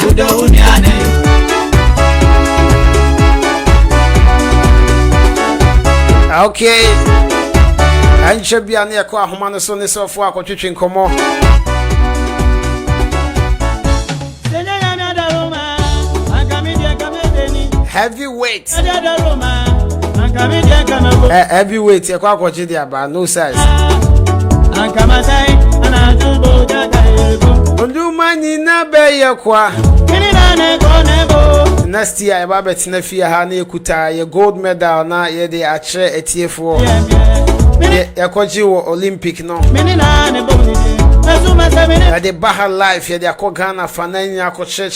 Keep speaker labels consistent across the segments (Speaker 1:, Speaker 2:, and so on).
Speaker 1: Wodɔ wo nua na yo. Ah, okay. ɛnkyɛ bia ne yɛkɔ ahoma no so ne sɛfoɔ akɔtwetwe nkɔmmɔ heavyweight Eh, heavyweight ɛkɔ akɔgye de aba no size ɔdoma nyina bɛyɛ koa next year yɛba bɛtena fie ha na yɛkuta yɛ gold medal na yɛde akyerɛ atiefoɔ yɛkɔgye wɔ olympic no yɛde ba ha life yɛde akɔ ghana fa na anya akɔkyerɛkyerɛ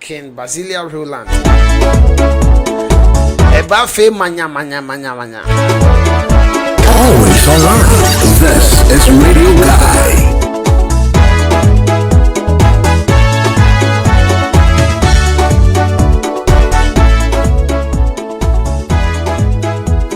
Speaker 1: Ken Basilea Rowland. Eba fe manya manya manya manya.
Speaker 2: Always online. This is Radio Guy.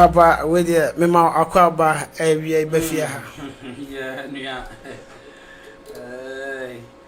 Speaker 1: papa wei deɛ mema akɔ aba awia bɛfie ha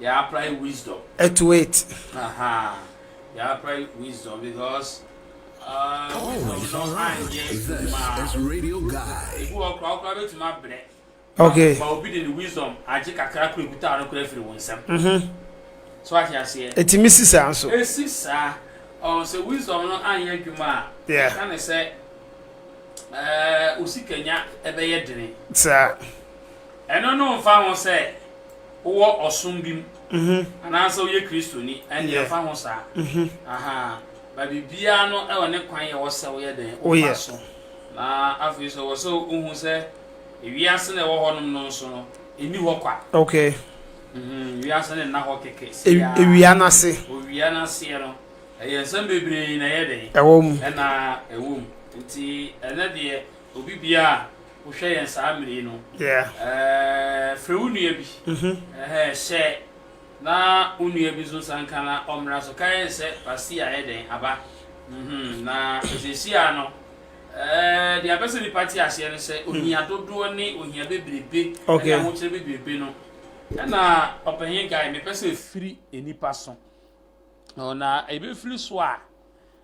Speaker 3: yɛapply wisdom. To it.
Speaker 1: Aha,
Speaker 3: yɛapply wisdom because
Speaker 2: uh,
Speaker 3: wisdom no
Speaker 2: anyɛ adwuma.
Speaker 3: Ebi
Speaker 2: wɔ kora
Speaker 3: wokora bɛtumi
Speaker 2: abrɛ.
Speaker 1: Okay. Ba obi de ne
Speaker 3: wisdom agye kakra kora ekuta no kora afiri wo nsam. Mhm. So ate aseɛ. Etimi si saa nso.
Speaker 1: Esi saa.
Speaker 3: Ɔn sɛ wisdom no anyɛ adwuma a. Yeah. Ɛka ne sɛ ɛɛ osikanya ɛbɛyɛ dene. Saa.
Speaker 1: Ɛno
Speaker 3: no mfa ho sɛ wowɔ ɔsom bi mu anaasɛ woyɛ Kristoni, ɛnde ɛmfa ho saa. Ahaa, but biribiara no wɔ ne kwan a ɛwɔ sɛ woyɛ dɛn? Wofa so.
Speaker 1: Na
Speaker 3: afei nso ɛwɔ sɛ wohu sɛ wiase na ɛwɔ hɔnom no nso no, ɛnni hɔ kwa. Okay.
Speaker 1: Mm-hmm, wiase
Speaker 3: no nna hɔ kɛkɛ siaa. Ewia no ase.
Speaker 1: Owia no aseɛ no,
Speaker 3: ɛyɛ nsɛm bebree na ɛyɛ dɛn? Ɛwɔ mu. Ɛna
Speaker 1: ɛwɔ mu.
Speaker 3: Nti ɛnɛ deɛ, obi biara. wohwɛ yɛn saa mmere yi no,
Speaker 1: frɛ
Speaker 3: wo nua bi, hyɛ na wo nua bi nso nsa nka na ɔmmra so. Kae no sɛ Pasia ayɛ dɛn? Aba. Na seesei ara no, deɛ apɛ sɛ nnipa te aseɛ no sɛ ohia dodoɔ ne ohia bebrebe ne ahokyerɛ bebrebe no, ɛna Ɔpanyin Guy mepɛ sɛ ɛfiri nnipa so. Na ɛbɛfiri so a,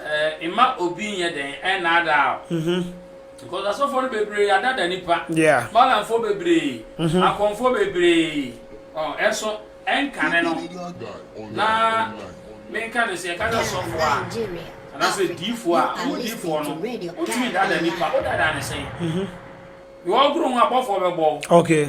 Speaker 3: Eh, mma obi nyɛ dɛn ɛnnaadaa wo. Mm-hmm. Because asɔfoɔ no bebree adada nipa. Yeah. Malamfoɔ
Speaker 1: bebree.
Speaker 3: Mm-hmm. Akɔmfoɔ bebree. Oh, ɛnso ɛnkane no. Na menka no sɛ yɛka sɛ sɔfoɔ a anaasɛ
Speaker 4: diifoɔ
Speaker 3: a ɔmo diifoɔ no wotumi dada nipa wodada ne sɛn. Mm-hmm. Wɔgoro ho abɔfoɔ bɛbɔ. Okay.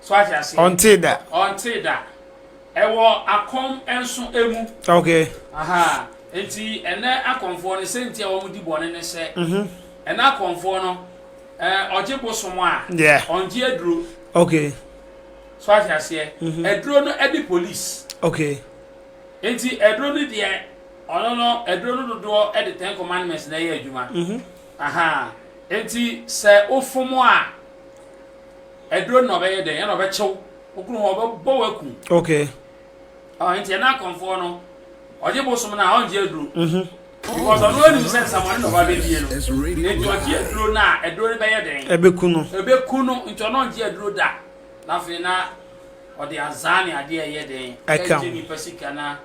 Speaker 1: So ate
Speaker 3: aseɛ? Ɔntee da. Ɔntee
Speaker 1: da.
Speaker 3: Ɛwɔ akɔm nso mu. Okay.
Speaker 1: Aha. Nti
Speaker 3: ɛnɛ akɔmfoɔ no sɛ nti a wɔn di bɔne ne sɛ. Mhm. Ɛnɛ akɔmfoɔ no ɛɛ ɔgye bosom a. Yeah. Ɔngye aduro. Okay.
Speaker 1: So ate
Speaker 3: aseɛ? Mhm. Aduro no ɛde police. Okay.
Speaker 1: Nti
Speaker 3: aduro no deɛ ɔno no aduro no dodoɔ ɛde ten commandments na ɛyɛ adwuma. Mhm. Aha. Nti sɛ ofom a. Aduro no na ɔbɛyɛ dɛn? Ɛna ɔbɛkyew wo kunu hɔ, ɔbɛbɔ wo aku. Okay.
Speaker 1: Ɔ nti
Speaker 3: ɛna akɔmfoɔ no, ɔgye bosom no a ɔngye aduro. Mhm. Because ɔno anim sɛ nsamɔne na ɔba bɛdie no. Nti ɔgye aduro no a, aduro no bɛyɛ dɛn? Ɛbɛku no. Ɛbɛku no, nti ɔno ɔngye aduro da. Na afei na ɔde azaa ne adeɛ ɛyɛ dɛn? Ɛka ho. Nipa sika na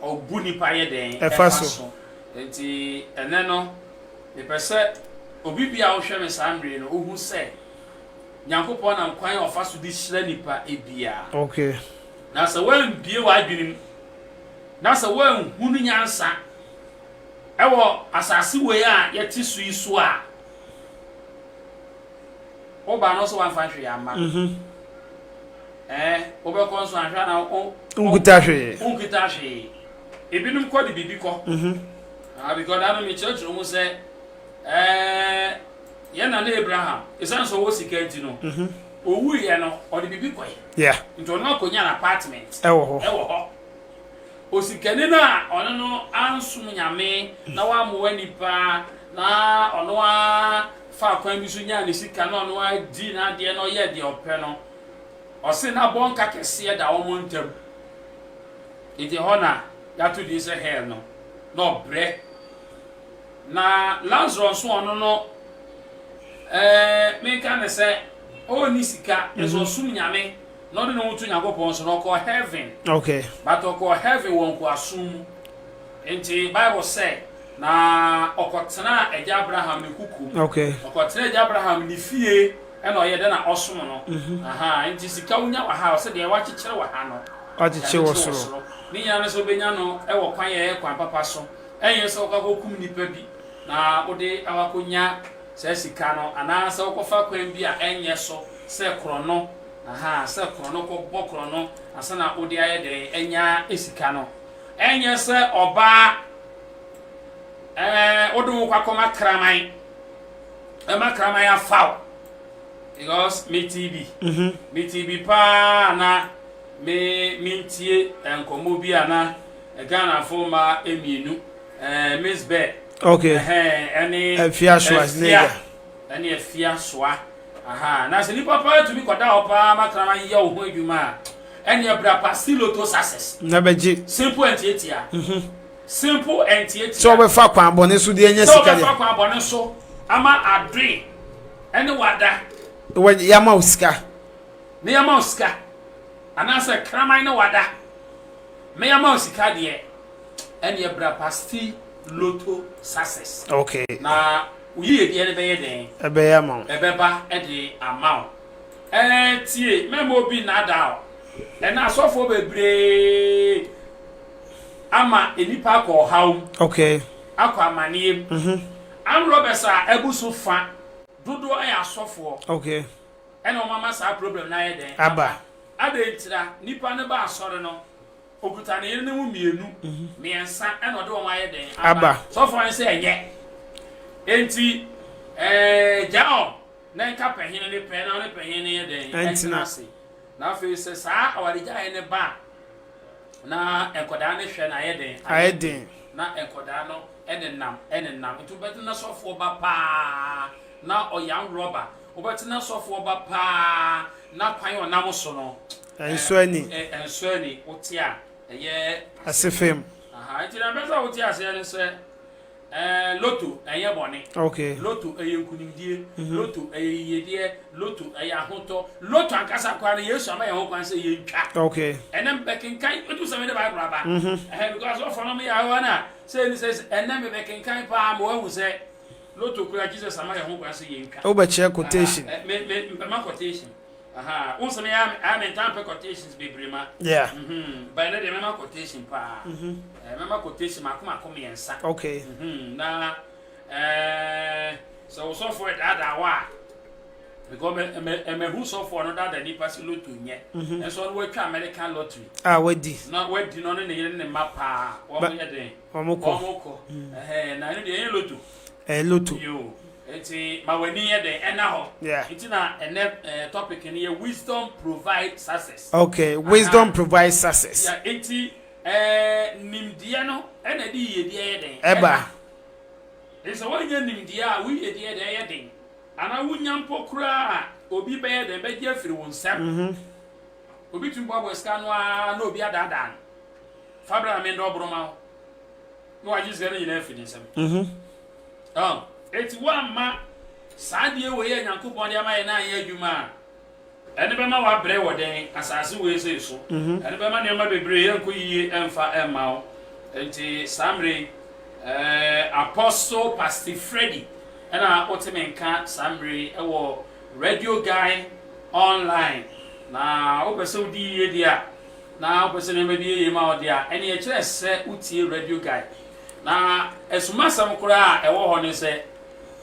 Speaker 3: ɔbu nipa yɛ dɛn? Ɛfa so.
Speaker 1: Nti
Speaker 3: ɛnɛ no, Mepɛ sɛ obi biara a ɔhwɛ me saa mmere yi no, ɔhu sɛ Nyankopɔn nam kwan a ɔfa so de hyira nnipa biara. Okay.
Speaker 1: Na sɛ
Speaker 3: woambue w'adwene mu, na sɛ woanhu no nyansa wɔ asase wei a yɛte so yi so a, woba no nso woamfa hwee amma no. Mhm. Ɛɛ, wobɛkɔ nso anhwɛ a na wo, Wonkita hwee.
Speaker 1: wonkita hwee.
Speaker 3: Ebinom kɔ de biribi kɔ. Mhm. Ah, because that no me church no say, eh, yeah, na Abraham, is that so was he can't you know? Mm-hmm. Oh, we, you know, or the baby boy. Yeah. Into an
Speaker 1: an
Speaker 3: apartment. Eh, oh, eh, oh. Osikani na ɔno no ansom nyame na wammoa nipa na ɔno a fa kwan bi so nyaa ne sika na ɔno a di n'adeɛ na ɔyɛ deɛ ɔpɛ no ɔse n'abɔnka kɛseɛ da wɔn ntam nti hɔ na Yɛato din sɛ hell no, na ɔbrɛ. Na Lazarus nso ɔno no, ɛɛ, menka ne sɛ ɔnni sika, nso mhm. ɔsom Nyame, na ɔde ne ho to Nyankopɔn so, na ɔkɔɔ heaven. Okay. But
Speaker 1: ɔkɔɔ heaven
Speaker 3: wɔ nkoasom mu. Nti Bible sɛ, na ɔkɔtenaa agya Abraham ne kuku. Okay. Ɔkɔtenaa agya
Speaker 1: Abraham
Speaker 3: ne fie, ɛna ɔyɛ dɛ na ɔsom no. Mhm. Aha, nti sika wonya wɔ ha, ɔsɛ deɛ wakyekyere wɔ ha no. Akyekye wɔ soro.
Speaker 1: Ne nyinaa ne sɛ wobɛnya
Speaker 3: no wɔ kwan a ɛyɛ kwan papa so. Ɛnyɛ sɛ wokɔakɔkum nnipa bi na wode akɔnya saa sika no, anaa sɛ wokɔfa kwan bi a ɛnyɛ so sɛ korɔno, ahaa, sɛ korɔno, kɔbɔ korɔno ansa na wode ayɛ dɛn anya sika no. Ɛnyɛ sɛ ɔbaa ɛɛ wode wo kɔ akɔma kraman, ɛma kraman afa wo. Because me tee bi, me tee bi paa na me me ntie nkɔmɔ bi a na Ghana fo ma mmienu, eh, Miss Bell. Okay. Eh, ɛne Afia
Speaker 1: Schwarzenegger. Ɛne Afia
Speaker 3: Soa. Aha, na sɛ nipa paa tumi kɔda hɔ paa ma krama yɛ wo ho adwuma a, ɛne ɛbra pa siloto success. Na bɛgye. Simple
Speaker 1: and tietia.
Speaker 3: Mm-hmm. Simple and Tietia. Sɛ wɔbɛfa kwan bɔne
Speaker 1: so de anya sika deɛ. Sɛ wɔbɛfa kwan bɔne so
Speaker 3: ama adwe ɛne wada. Wɔ yama
Speaker 1: o sika. Ne yama
Speaker 3: o sika. Anaasɛ kraman ne wada. Me yama o sika deɛ. Ɛne ɛbra pasti loto success. Okay. Na
Speaker 1: woyie
Speaker 3: deɛ ne bɛyɛ dɛn. Ɛbɛyɛ ama wo. Ɛbɛba
Speaker 1: ɛde
Speaker 3: ama wo. Ɛɛ tie mɛmɛ obi nada o. Ɛna asɔfoɔ bebree. ama nnipa akɔ ɔhaw mu, akɔ
Speaker 1: amaneɛ
Speaker 3: mu. Armed robbers a abu so fa dodoɔ yɛ asɔfoɔ
Speaker 1: na wɔn ama
Speaker 3: saa problem no ayɛ dɛn aba. Adɛn
Speaker 1: ntira?
Speaker 3: Nipa no ba asɔre no, okuta ne yere no mu mmienu, mmiɛnsa na ɔde wɔn ayɛ dɛn aba. Sɔfoɔ no
Speaker 1: sɛ ɛnyɛ.
Speaker 3: Enti eh, gyaa wɔn na nka pɛhene no pɛ na ɔne pɛhene no yɛ dɛn? Ɛntena ase.
Speaker 1: Na afei
Speaker 3: sɛ saa awaregyaeɛ no ba a, na nkwadaa no hwɛ no ayɛ den ayɛ den na
Speaker 1: nkwadaa
Speaker 3: no nenam nenam nti wobɛte na sɔfoɔ ba paa na ɔyam rɔba wobɛte na sɔfoɔ ba paa na kwan ɔnam so no ɛnso ani
Speaker 1: ɛnso ani wote
Speaker 3: a ɛyɛ asefem
Speaker 1: nti na
Speaker 3: bɛsɛ wote aseɛ no sɛ Ɛɛ, Lotto, ɛnyɛ bɔne. Okay. Lotto, ɛyɛ
Speaker 1: nkunimdie.
Speaker 3: Mhm. Lotto, ɛyɛ yiyedeɛ. Lotto, ɛyɛ ahotɔ. Lotto ankasa koraa no, Yesu ama yɛn ho kwan sɛ yɛntwa. Okay. Ɛnɛ mebɛkenkan, wotu sɛ mede Bible aba. Mhm. Ɛhɛ, because wɔfɔ no meyɛ awa no a, sɛ ɛni sɛ sɛ- ɛnɛ mebɛkenkan paa ma woahu sɛ Lotto koraa Jesus ama yɛn ho kwan sɛ yɛntwa. Wobɛkyerɛ quotation. Aha, ɛ, me,
Speaker 1: me, mpɛma
Speaker 3: quotation. Ahaa, wo nso no yɛ a me ntaa mpɛ quotations bebree ma. Yeah. Mhm,
Speaker 1: but ɛnɛ deɛ mɛma
Speaker 3: quotation paa. Mhm. Eh, mɛma quotation mako mako mmiɛnsa. Okay. Mhm,
Speaker 1: na eh,
Speaker 3: sɛ wo sɔfoɔ ɛdaadaa wɔ a, because mɛ mɛ mɛhu sɔfoɔ no daadaa nipa si loto nyɛ. Mhm. Ɛnso ɔno watwa American lottery. Ah, wadi. Na
Speaker 1: wadi na ɔne
Speaker 3: ne yere ne ne mma paa. Wɔn Ba- yɛ den. wɔn kɔ. Wɔn kɔ. Ɛhɛn, na ɛno deɛ ɛyɛ loto. Eh, loto. Yoo. Nti ma w'ani nyɛ dɛn ɛna hɔ. Yeah. Nti na ɛnɛ eh, topic no yɛ wisdom provide success. Okay, Aha. wisdom
Speaker 1: provide success. Yeah, nti
Speaker 3: eh, nimdeɛ no ɛna ɛde yiyedie ɛyɛ dɛn? Ɛba.
Speaker 1: Nti
Speaker 3: sɛ wɔnyɛ nimdeɛ a, wo yiyedie ɛde ɛyɛ den. Anaa wonya mpo koraa a, obi bɛyɛ dɛn bɛgye afiri wo nsam. Mm -hmm. Obi tumi boaboa sika no ara na obi adaadaa no. Fa bra na mendɔ ɔboro ma wo. na wagye sika no nyinaa afi ne nsam mhm. enti woamma saa deɛ wei a nyankopɔn de ama yɛ no anyɛ adwuma a ɛne bɛma wabrɛ wɔ dɛn asase wei sei so mhm. ɛne bɛma nneɛma bebree yɛnkɔ yiye ɛmfa ɛmma wo nti saa mmere eh, apostle pastor freddy ɛna woteme nka saa mmere ɛwɔ radio guy online na wopɛ sɛ wodi yiye deɛ a na wopɛ sɛ nneɛma bi yɛ yie ma wo deɛ a, ɛnneɛ ɛkyerɛ sɛ wotie Radio Guide. Na asumasɛm koraa a ɛwɔ hɔ ne sɛ,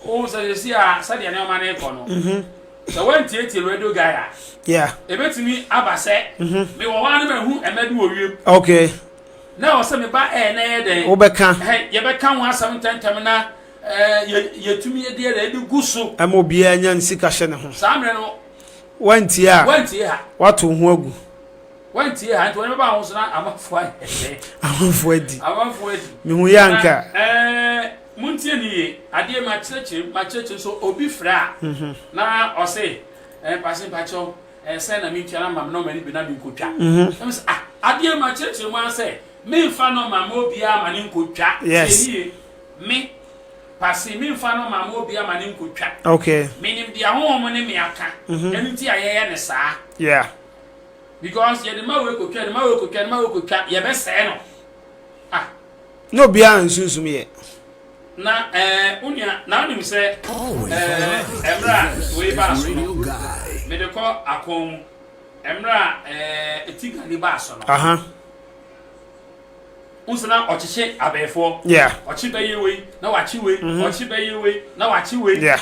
Speaker 3: wohu sɛ seesei a sɛdeɛ nneɛma no rekɔ no, mhm. sɛ woantietie Radio Guide a, ɛbɛtumi
Speaker 1: aba
Speaker 3: sɛ mhm. mewɔ hɔ a no mahu ɛmɛ bi wɔ wiem. Okay.
Speaker 1: na ɛwɔ sɛ
Speaker 3: meba ɛɛ na ɛyɛ dɛn. wobɛka. yɛbɛka
Speaker 1: ho
Speaker 3: asɛm ntɛntɛm na yɛtumi deɛ na ɛde gu so. ɛma obiara nya nsika
Speaker 1: hyɛ ne ho. saa mmerɛ no
Speaker 3: Wantie a,
Speaker 1: wantie a, wato ho agu. Wantie a,
Speaker 3: nti wɔn bɛba ahosuo na amanfo ayɛ. amanfo adi. amanfo adi. mehu yɛ anka. Na,
Speaker 1: ɛɛ
Speaker 3: montie ne yie adeɛ ma kyerɛkyerɛ ma kyerɛkyerɛ so obi frɛ a. Mhm. na ɔse ɛɛ pase mpakyɛw ɛɛ sɛ na mentua na ma me nɔma no bi na menkotwa. Mhm. na mesɛ ah adeɛ ma kyerɛkyerɛ mu ara sɛ menfa nɔma ma obiara ma ne nkotwa. Yes. Tie ne yie.
Speaker 1: me
Speaker 3: pase me nfa no mama obi ama ne nko twa okay me nim dia
Speaker 1: honhom mo
Speaker 3: ne me aka mhm. ɛnu ti a yɛyɛ ne saa yeah
Speaker 1: because
Speaker 3: yɛde ma wei kotwa yɛde ma wei kotwa yɛde ma wei kotwa yɛbɛsɛɛ no ah
Speaker 1: na obiara nsunsum yɛ na
Speaker 3: ɛɛ eh, onua na onim sɛ ɛɛ ɛmira wei baa so no mede kɔ akɔn mu ɛmira ɛɛ eh, eti gani baa so no. Wonso na ɔkyekye abɛɛfoɔ. Yeah. Ɔkye bɛyɛ
Speaker 1: wei
Speaker 3: na wakye wei. Mm -hmm. Ɔkye bɛyɛ wei na wakye wei. Yeah.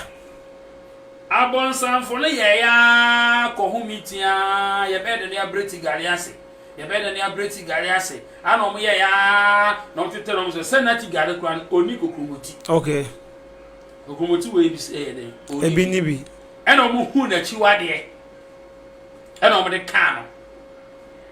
Speaker 3: Abɔnsanfo no yɛɛ ya kɔ ho mi tia yɛbɛyɛ dɛ ne abrɛ ti gari ase. Yɛbɛyɛ dɛ ne abrɛ ti gari ase. Ana ɔmo yɛ ya na ɔmo tetɛ na ɔmo sɛ sɛ na ti gari kura no ɔni kokuromoti. Okay.
Speaker 1: Kokuromoti
Speaker 3: wei bi sɛ yɛ dɛ. Ebi ni bi.
Speaker 1: Ɛna ɔmo hu
Speaker 3: n'akyiwadeɛ. Ɛna ɔmo de kaa no.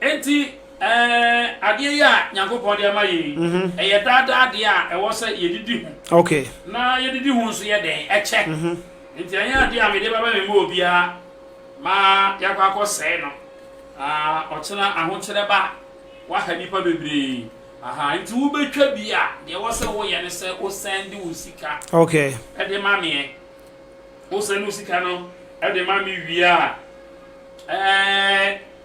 Speaker 3: Enti, ɛɛ, adeɛ yi a Nyankopɔn de ama yɛn yi, ɛyɛ daa daa adeɛ a ɛwɔ sɛ yɛdidi ho. Okay. Na yɛdidi
Speaker 1: ho
Speaker 3: nso yɛ dɛn? Ɛkyɛ. Enti ɛnyɛ adeɛ a mede bɛba mema obiara ma yɛakɔ akɔsɛe no, na ɔkyena ahokyerɛ ba a, waha nnipa bebree. Aha, enti wobɛtwa bi a, deɛ ɛwɔ sɛ woyɛ ne sɛ wo sɛnde wo sika Okay. de
Speaker 1: ma meɛ.
Speaker 3: Wo sɛnde wo sika no de ma me wie a, ɛɛ,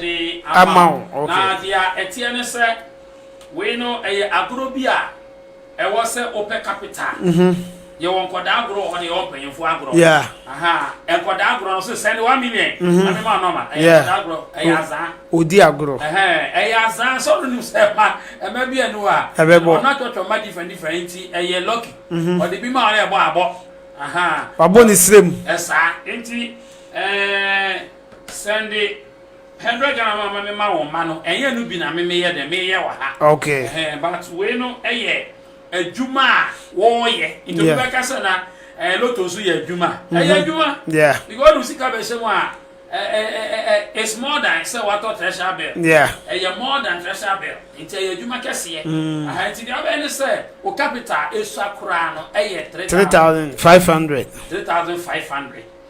Speaker 3: de ama wo.
Speaker 1: Na deɛ ɛteɛ
Speaker 3: ne sɛ, wei no, ɛyɛ agorɔ bi a ɛwɔ sɛ wopɛ capital. Yɛwɔ nkwadaa agorɔ wɔ hɔ, na yɛwɔ mpanyinfoɔ agorɔ. Yeah.
Speaker 1: Nkwadaa
Speaker 3: agorɔ no, so send one million. Na mi ma nɔma. Ɛyɛ nkwadaa agorɔ, ɛyɛ azaa. Odi agorɔ.
Speaker 1: Ɛyɛ azaa,
Speaker 3: sɛ ɔno nim sɛ ɛma ɛma bi ɛnu a. Ɛbɛ bɔ. Ɔno atwɔtwɔ mma different different nti ɛyɛ lucky. Ɔde bi ma ɔno ɛbɔ abɔ. Wabɔ
Speaker 1: ne srɛ mu. Ɛsaa nti
Speaker 3: ɛɛ. Sɛnde hundred Ghana ma ma me ma wɔn mma no ɛnyɛ ɛno bi na me meyɛ dɛ meyɛ wɔ ha okay ɛhɛn but
Speaker 1: wei no
Speaker 3: ɛyɛ adwuma a wɔɔyɛ nti obi bɛka sɛ na ɛɛ loto nso yɛ adwuma ɛyɛ adwuma yeah because ɔde
Speaker 1: sika bɛhyɛ
Speaker 3: mu a ɛɛ ɛɛ it's more than sɛ watɔ treasure bill yeah ɛyɛ more
Speaker 1: than treasure
Speaker 3: bill nti ɛyɛ adwuma kɛseɛ ɛhɛn nti deɛ ɔbɛyɛ ne sɛ o capital esua koraa no ɛyɛ three thousand five
Speaker 1: hundred three thousand five hundred.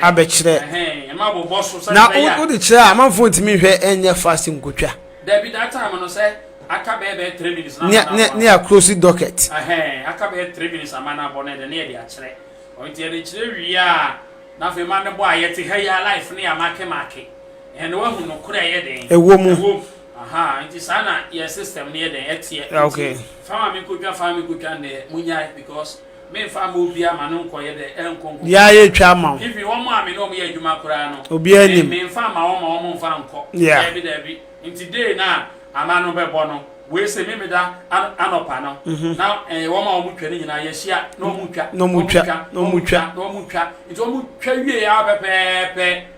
Speaker 3: abɛkyerɛ na wode kyerɛ a
Speaker 1: amanfoɔ ntumi nhwɛ ɛnyɛ fast nkotwa
Speaker 3: ne yɛ close
Speaker 1: docket
Speaker 3: ɛwɔ mu
Speaker 1: okay
Speaker 3: Menfa mma obiara ma no nkɔyɛ dɛ ɛnkɔ nkɔkɔ Bia yɛ twa ama wo.
Speaker 1: Even wɔn a me ne wɔn yɛ
Speaker 3: adwuma koraa no Obiara me nim. menfa
Speaker 1: mma wɔn ma
Speaker 3: wɔn nfa nkɔ Yeah. Daabi daabi
Speaker 1: Nti
Speaker 3: day no a ama no bɛbɔ no Wei se Memeda an anɔpa no na eh wɔn a wɔn twa no nyinaa yɛhyia na wɔn twa Na wɔn twa, na wɔn twa. na wɔn twa Nti wɔn twa wieɛ ara pɛpɛɛpɛ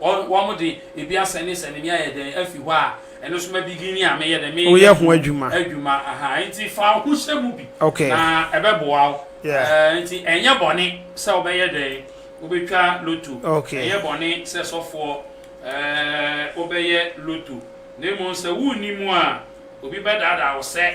Speaker 3: Wɔde ebi asɛne sɛne me ayɛ dɛn afi hɔ a ɛno nso ma bigini a meyɛ dɛn meyɛ Woyɛ ho adwuma. adwuma
Speaker 1: aha nti
Speaker 3: fa wo ho hyɛ mu bi Ok. na ɛbɛboa
Speaker 1: wo
Speaker 3: Yeah. Eh, nti ɛnyɛ bɔne sɛ wobɛyɛ dɛn wobɛtwa loto Ok. ɛnyɛ bɔne sɛ sɔfoɔ eh, wobɛyɛ loto na mmom sɛ wonni mu a obi bɛdaadaa wo sɛ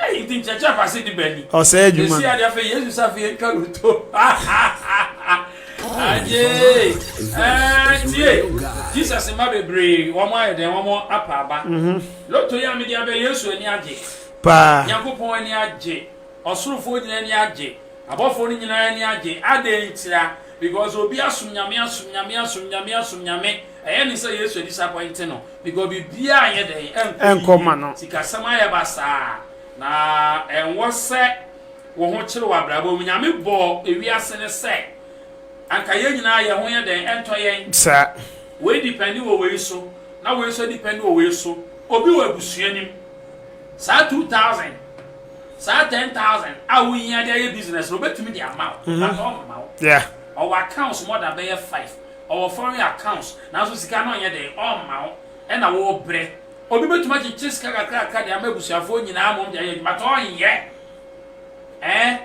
Speaker 3: Eyi nti nkyerɛkyerɛ afa ase de bɛn ni? Ɔsɛe adwuma no. Esi ade
Speaker 1: afei Yesu sa afei
Speaker 3: yɛntwa no to. Agyee! Ɛɛ, tie! Jesus mma bebree, wɔn ayɛ dɛn? Wɔn apa aba. Lotto yi a mede aba yi, Yesu ani agye. Paa. Nyankopɔn
Speaker 1: ani agye.
Speaker 3: Ɔsorofoɔ nyinaa ani agye. Abɔfoɔ no nyinaa ani agye. Adɛn ntira? Because obi asom Nyame, asom Nyame, asom Nyame, asom Nyame. Ɛyɛ ne sɛ Yesu a disappointe no. Because biribiara nyɛ dɛn ɛnkɔ yiye. Ɛnkɔ ma no.
Speaker 1: Sikasɛm ayɛ basaa.
Speaker 3: Na ɛnwɔ sɛ wo ho kyere wɔ abrabɔ mu. Nyame bɔɔ ewiase no sɛ anka yɛn nyinaa yɛn ho yɛ dɛn ɛntɔ yɛn. Saa. Wei
Speaker 1: depɛnde
Speaker 3: wɔ wei so na wei nso depɛnde wɔ wei so. Obi wɔ abusua no mu, saa two thousand, saa ten thousand a wo hia de ayɛ business no obetumi de ama wo but ɔmma wo. Yeah. Ɔwɔ accounts more than bɛyɛ five. ɔwɔ foreign accounts nanso sika no nyɛ dɛn ɔmma wo ɛna wobrɛ. Obi bɛtumi akyekye sika kakrakra de ama abusuafoɔ nyinaa mom de ayɛ adwuma but ɔnyɛ. Ɛɛ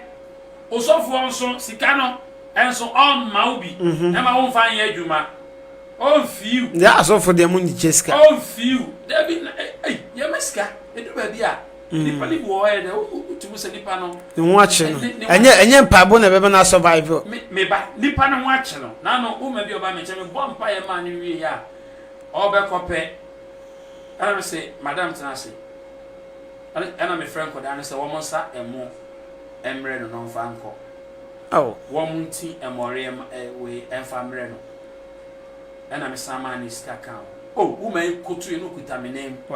Speaker 3: osɔfoɔ nso sika no ɛnso ɔmma wo bi ɛma wo mfa nyɛ adwuma. Ɔmfiiw. Yɛ asɔfoɔ deɛ mo nkyekye
Speaker 1: sika. Ɔmfiiw.
Speaker 3: Dabi na ei yɛma sika ɛdu baabi a. Nipa no bi wɔ hɔ yɛ dɛ wotum sɛ nipa no. Ne ho akye no.
Speaker 1: Ɛnyɛ ɛnyɛ mpaebɔ na ɛbɛma no asɔvaive. Me me ba nipa
Speaker 3: no ho akye no n'ano woma bi ɔba me nkyɛn mebɔ mpaeɛ maa no wie a ɔbɛkɔ pɛ ɛna me se madam tena ase ɛna mefrɛ nkɔdaa no sɛ wɔn nsa ɛmo mmerɛ no na ɔmfa nkɔ wɔn nti ɛmɔreɛ wei ɛmfa mmerɛ no ɛna mesan maa ne sika ka ho o woma yi koto yi no kuta me nan mu.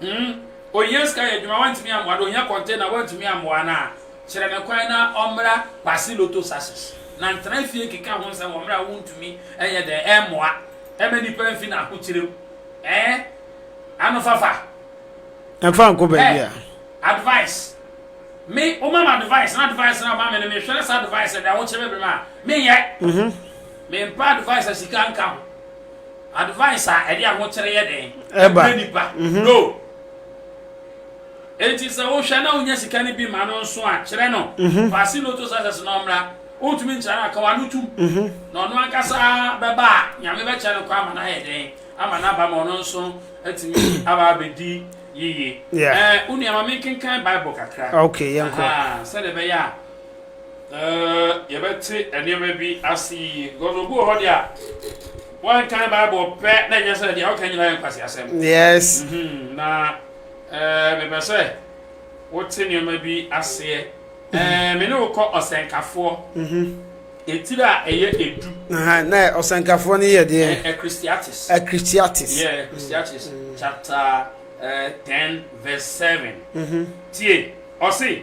Speaker 3: Hmm, ohia sika yɛ adwuma, wantumi ammoa no, ohia container, wantumi ammoa no a, kyerɛ no kwan na ɔmmra Kwasi Lotto Sachets, na ntena fie nkeka ho nsɛm wɔ mmerɛ a wontumi nyɛ dɛn mmoa mma nnipa mfi n'ahokyerɛ mu. Ɛɛ, anofafa. Ɛmfa
Speaker 1: nkɔ baabi a. Advice.
Speaker 3: Me, woma me advice, na advice na woma me no, mehwɛ na saa advice ɛde ahokyerɛ bɛbrɛ me a, menyɛ. Mm-hmm. Mempa advice a sika nka ho. Advice a ɛde ahokyere yɛ dɛn ɛbrɛ nipa
Speaker 1: no
Speaker 3: enti sɛ wohwɛ na wonya sika no bi ma no nso a kyerɛ no paase loto success na ɔmmra wontumi nkyerɛ no akawa no tum na ɔno ankasa bɛba a nyame bɛkyɛ no kɔ ama no ayɛ dɛn ama no aba ma ɔno nso atumi aba abɛdi yiye ɛɛ wo nua ma menkenkan bible kakra okay yɛnkɔ
Speaker 1: sɛdeɛ ɛbɛyɛ a
Speaker 3: yɛbɛte nneɛma bi ase yie because obi wɔ hɔ deɛ a wɔnkan bible pɛ na ɛnyɛ sɛ deɛ ɔka nyina yɛ nkwasi asɛm yes mhm,
Speaker 1: na
Speaker 3: eh, mepɛ sɛ wote nneɛma bi aseɛ eh, me ne wokɔ ɔsɛnkafoɔ mhm. ɛtiri a ɛyɛ ɛdu na
Speaker 1: ɔsɛnkafoɔ no yɛ deɛ eh, christiatis
Speaker 3: christiatis yeah
Speaker 1: christiatis
Speaker 3: mm. chapter 10 verse 7 mhm. tie ɔse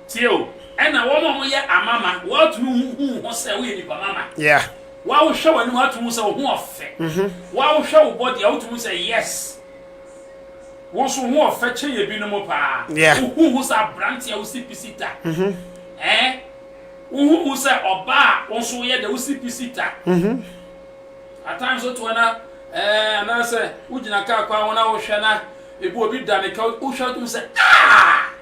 Speaker 1: Tie o,
Speaker 3: ɛna wɔn a wɔyɛ amama, wɔatumi hu hu wo ho sɛ woyɛ nipa mama. Yeah. Wa
Speaker 1: wohwɛ w'anim
Speaker 3: a, atumi hu sɛ wo ho ɔfɛ. Mm-hmm. Wa wohwɛ wo body a, wotumi hu sɛ yes. Wo nso ho ɔfɛ kyɛn ebinom paa. Yeah. Wo hu hu sɛ
Speaker 1: aberante
Speaker 3: a wosi pisi ta. Mm-hmm. Eh? Wo hu hu sɛ ɔbaa a wo nso woyɛ dɛ wosi pisi ta. Mm-hmm. At times wotu ana eh anaasɛ wogyina kaa kwan ho na wohwɛ na ebi obi da ne ka wohwɛ wotum sɛ ah!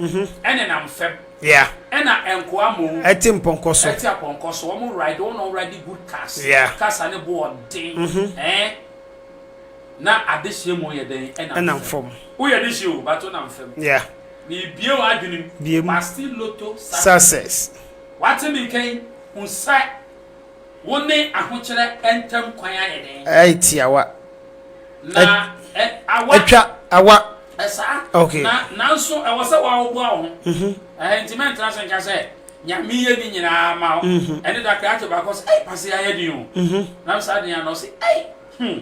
Speaker 3: mm-hmm. ɛnenam fam yeah. ɛna
Speaker 1: nkoa
Speaker 3: mmom ɛte mpɔnkɔ so ɛte
Speaker 1: apɔnkɔ so wɔn
Speaker 3: ride wɔn ride good cars yeah. cars ne bo
Speaker 1: ɔden
Speaker 3: mm-hmm. ɛn na adehyeɛ mu yɛ dɛn ɛnam fam
Speaker 1: woyɛ de hyeɛ o
Speaker 3: bato nam fam yeah.
Speaker 1: bibie wɔ
Speaker 3: adwenem bibie mu pasti loto success
Speaker 1: wate mi
Speaker 3: nkɛn nsa. Wo ne ahokyerɛ ntam kwan ayɛ dɛn? Ayɛ tiawa.
Speaker 1: Na
Speaker 3: ɛ, awa. Atwa, awa.
Speaker 1: Ɛsaa. Okay.
Speaker 3: Na,
Speaker 1: nanso ɛwɔ
Speaker 3: sɛ woahoboa wo ho. Mhm. Ɛhɛ, enti mɛntena ase nka sɛ, Nyame yɛ ne nyinaa ma wo. Mhm. Ɛne da krakye baako ɔse, Ei, pasee ayɛ den o. Mhm. Na me saa den ano ɔse, Ei, hmm,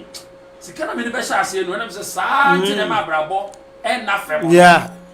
Speaker 3: sika na mede bɛhyɛ aseɛ no, ɛna mese, Saa nti na ɛma abrabɔ ɛnna fam no. Yeah.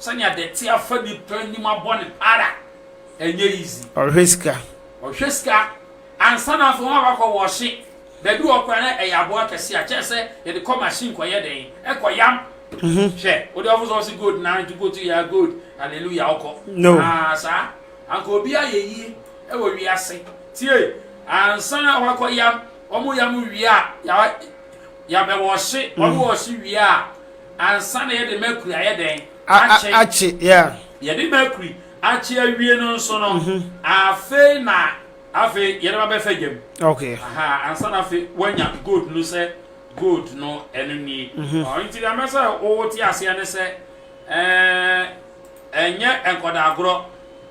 Speaker 3: Sɛnea dɛte afa nnipa anim abɔ no ara, ɛnyɛ easy. Ɔhwɛ sika.
Speaker 1: Ɔhwɛ sika.
Speaker 3: Ansa na afei wɔn akɔ wɔɔhye. Baabi wɔ hɔ koraa na ɛyɛ aboa kɛse a kyɛɛ sɛ yɛde kɔ machine kɔ yɛ dɛn? Ɛkɔ yam. Hwɛ, wo deɛ ɔfo sɛ ɔse gold na nti go to ya gold, hallelujah, ɔkɔ. No. Haa
Speaker 1: saa.
Speaker 3: Anka obi ayɛ yie ɛwɔ wiase. Tie, ansa na wɔakɔ yam, wɔn yam wie a, ya, yabɛwɔɔhye, wɔn wɔɔhye wie a, ansa na yɛde mercury ayɛ dɛn? Akye. Akye,
Speaker 1: yeah. Yɛde mercury
Speaker 3: akye awie no nso no, afei na afei yɛde ba bɛfa gya mu. Okay. Aha,
Speaker 1: ansa na afei
Speaker 3: wanya gold no sɛ gold no ɛno nie. Ɔno nti deɛ mɛ sɛ wote aseɛ ne sɛ ɛɛ ɛnyɛ nkɔdaagorɔ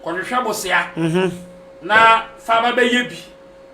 Speaker 3: kɔhwehwɛ bosea na fa ba bɛyɛ bi.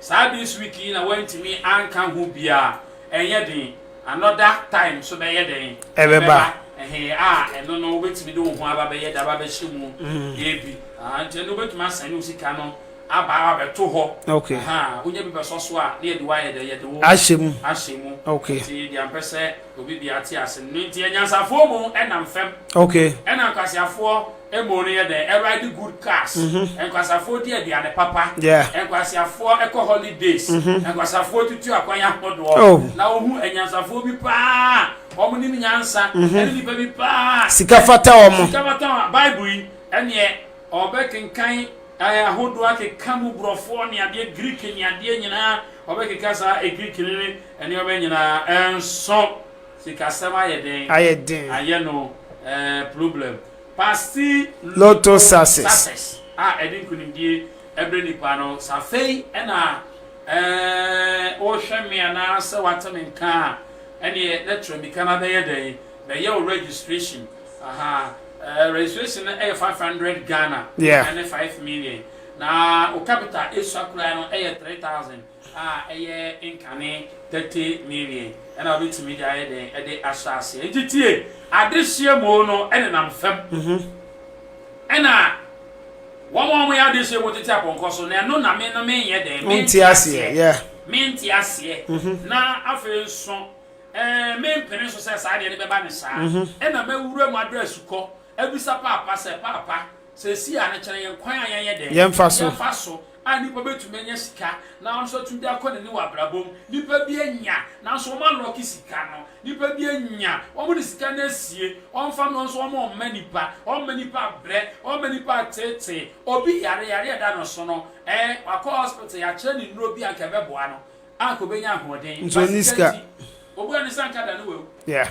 Speaker 3: Saa this week yi na wantumi anka ho biaa ɛnyɛ den another time so bɛyɛ dɛn ɛbɛba ɛhee
Speaker 1: a ɛno
Speaker 3: no wobɛtumi de wo ho aba bɛyɛ daba bɛhyɛ mu ebi aa nti ɛno wobɛtumi asɛne wo sika no aba abɛto hɔ ahaa wonya
Speaker 1: bi bɛsɔ
Speaker 3: so a na yɛde wo ayɛ dɛn yɛde wo ahyɛ mu nti deɛ
Speaker 1: mpɛ sɛ
Speaker 3: Obi bia te ase no nti anyansafoɔ mo nam fam ɛna
Speaker 1: nkwaseafoɔ
Speaker 3: mo no yɛ dɛn ride good cars nkwaseafoɔ di aduane papa nkwaseafoɔ kɔ holidays nkwaseafoɔ tutu akwan ahodoɔ na wohu anyansafoɔ bi paa wɔn nim nyansa ɛne nipa bi paa sika fata wɔn
Speaker 1: sika fata
Speaker 3: wɔn bible yi
Speaker 1: ɛneɛ
Speaker 3: ɔbɛkenkan ahodoɔ akeka mu borɔfoɔ ne adeɛ greek ne adeɛ nyinaa ɔbɛkeka saa greek ne Nneɛma nyinaa nso sikasɛm ayɛ den ayɛ den. ayɛ no eh problem pasti Lotto
Speaker 1: success a ɛde nkunimdie
Speaker 3: ɛbrɛ nipa no sɛ afei ɛna eh wohwɛ me anaa sɛ wate me nka a ɛneɛ na tua mika no abɛyɛ dɛn bɛyɛ wo registration aha eh registration no ɛyɛ 500 Ghana Yeah. ɛne 5 million na wo capital ɛsua koraa no ɛyɛ 3000. a ɛyɛ nkane tɛte mmienmien na wobɛtumi de ayɛ dɛn de ahyɛ aseɛ. Nti tie, adehyeɛ mo no nenam fam, ɛna wɔn a wɔyɛ adehyeɛ mo tete apɔnkɔ so, na ɛno na me no menyɛ dɛn, mente aseɛ, mente aseɛ, na afei nso mempene so sɛ saa deɛ no bɛba ne saa, ɛna mɛwura mu adɔ asukɔ, abisa paapa sɛ, Paapa, sɛ ɛsi a, no kyerɛ yɛn kwan a yɛnyɛ dɛn, yɛmfa so.
Speaker 1: a nipa
Speaker 3: betumi anya sika na ɔno nso atumi de akɔ n'anim wɔ abrabɔ mu. Nipa bi anya nanso wɔn alɔke sika no. Nipa bi anya, wɔn de sika no asie, wɔn nfa mmrɛ wɔn nso wɔn mma nipa, wɔn mma nipa abrɛ, wɔn mma nipa ateetee. Obi yare, yare a ɛda no so no, ɛɛ wakɔ hospital, yɛakyerɛ no nnuro bi a anka ɛbɛboa no, anka obenya ahoɔden, Nti ba ɔnni sika sika. nti,
Speaker 1: obua no sɛ anka
Speaker 3: da no wawu. Yeah.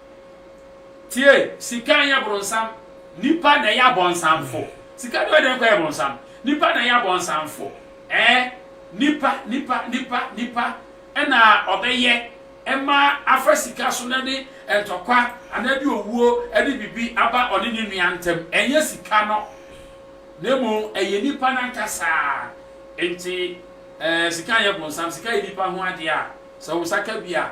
Speaker 3: Tie, sika nyɛ bronsam, nipa na ɛyɛ abɔnsamfo. Sika deɛ ɔdɛn kɔyɛ bronsam? Nipa na ɛyɛ abɔnsamfo. Ɛɛ, nipa, nipa, nipa, nipa na ɔbɛyɛ ma afa sika so na de ntɔkwa anaa de owuo de biribi aba ɔne ne nua ntam. Ɛnyɛ sika no, na mmom ɛyɛ nipa no ankasa. Enti, ɛɛ, sika nyɛ bronsam, sika yɛ nipa ho adeɛ a, sɛ wo nsa ka bi a,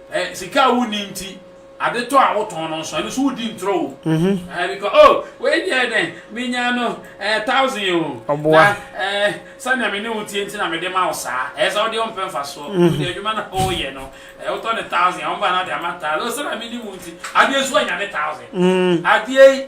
Speaker 3: Ɛ, sika a wonni nti, ade tɔ a wotɔn no nso, ɛno nso wodi ntorɔ o. Ɛ, bikɔ, o, wei deɛ dɛ, menya no, ɛ, thousand o, na, ɛ, sɛdeɛ me ne wo teɛ nti na mede ma wo saa. Ɛyɛ sɛ wo deɛ wompɛ mfasoɔ, wo deɛ adwuma no a woyɛ no, ɛ, wotɔ no thousand a, wɔba na wode ama thousand. O, sɛdeɛ me ne wo nti, adeɛ nso anya ne thousand. Adeɛ yi,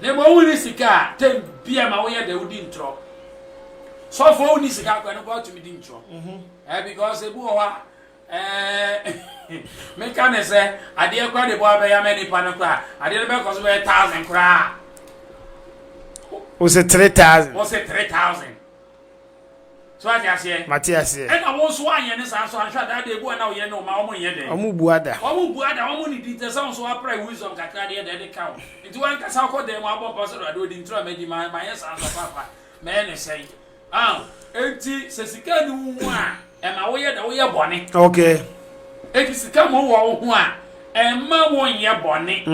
Speaker 3: Na mmom wonni sika a, tɛm bia ma woyɛ dɛ wodi ntorɔ. Sɔfoɔ wonni sika koraa no koraa wotumi di ntorɔ. Eh, because ebi wɔ hɔ a, eh, meka ne sɛ adeɛ koraa de bɔ abɛya mɛ nipa no koraa, adeɛ no bɛkɔ so bɛyɛ thousand koraa.
Speaker 1: Wose three thousand. Wose three thousand.
Speaker 3: So wate aseɛ? Mate aseɛ. Ɛna wo nso
Speaker 1: woanyɛ
Speaker 3: ne saa nso anhwɛ a that day ebu a na woyɛ ne wo ma wɔn nyɛ dɛn? Wɔn bua da. Wɔn
Speaker 1: bua da, wɔn ne di
Speaker 3: ntɛ sɛ wo nso woapra wisdom kakra deɛ deɛ ɛde ka wo. Nti wankasa wokɔ dan mu abɔ mpaeɛ sɛ Awurade odi ntoro a madi ma manyɛ saa nso a papa mɛyɛ no sɛn? Aw, enti sɛ sika nni wo ho a. Ɛma woyɛ dɛ woyɛ bɔne. Okay.
Speaker 1: Enti sika
Speaker 3: ma ɔwɔ wo ho a, ɛmma wonyɛ bɔne.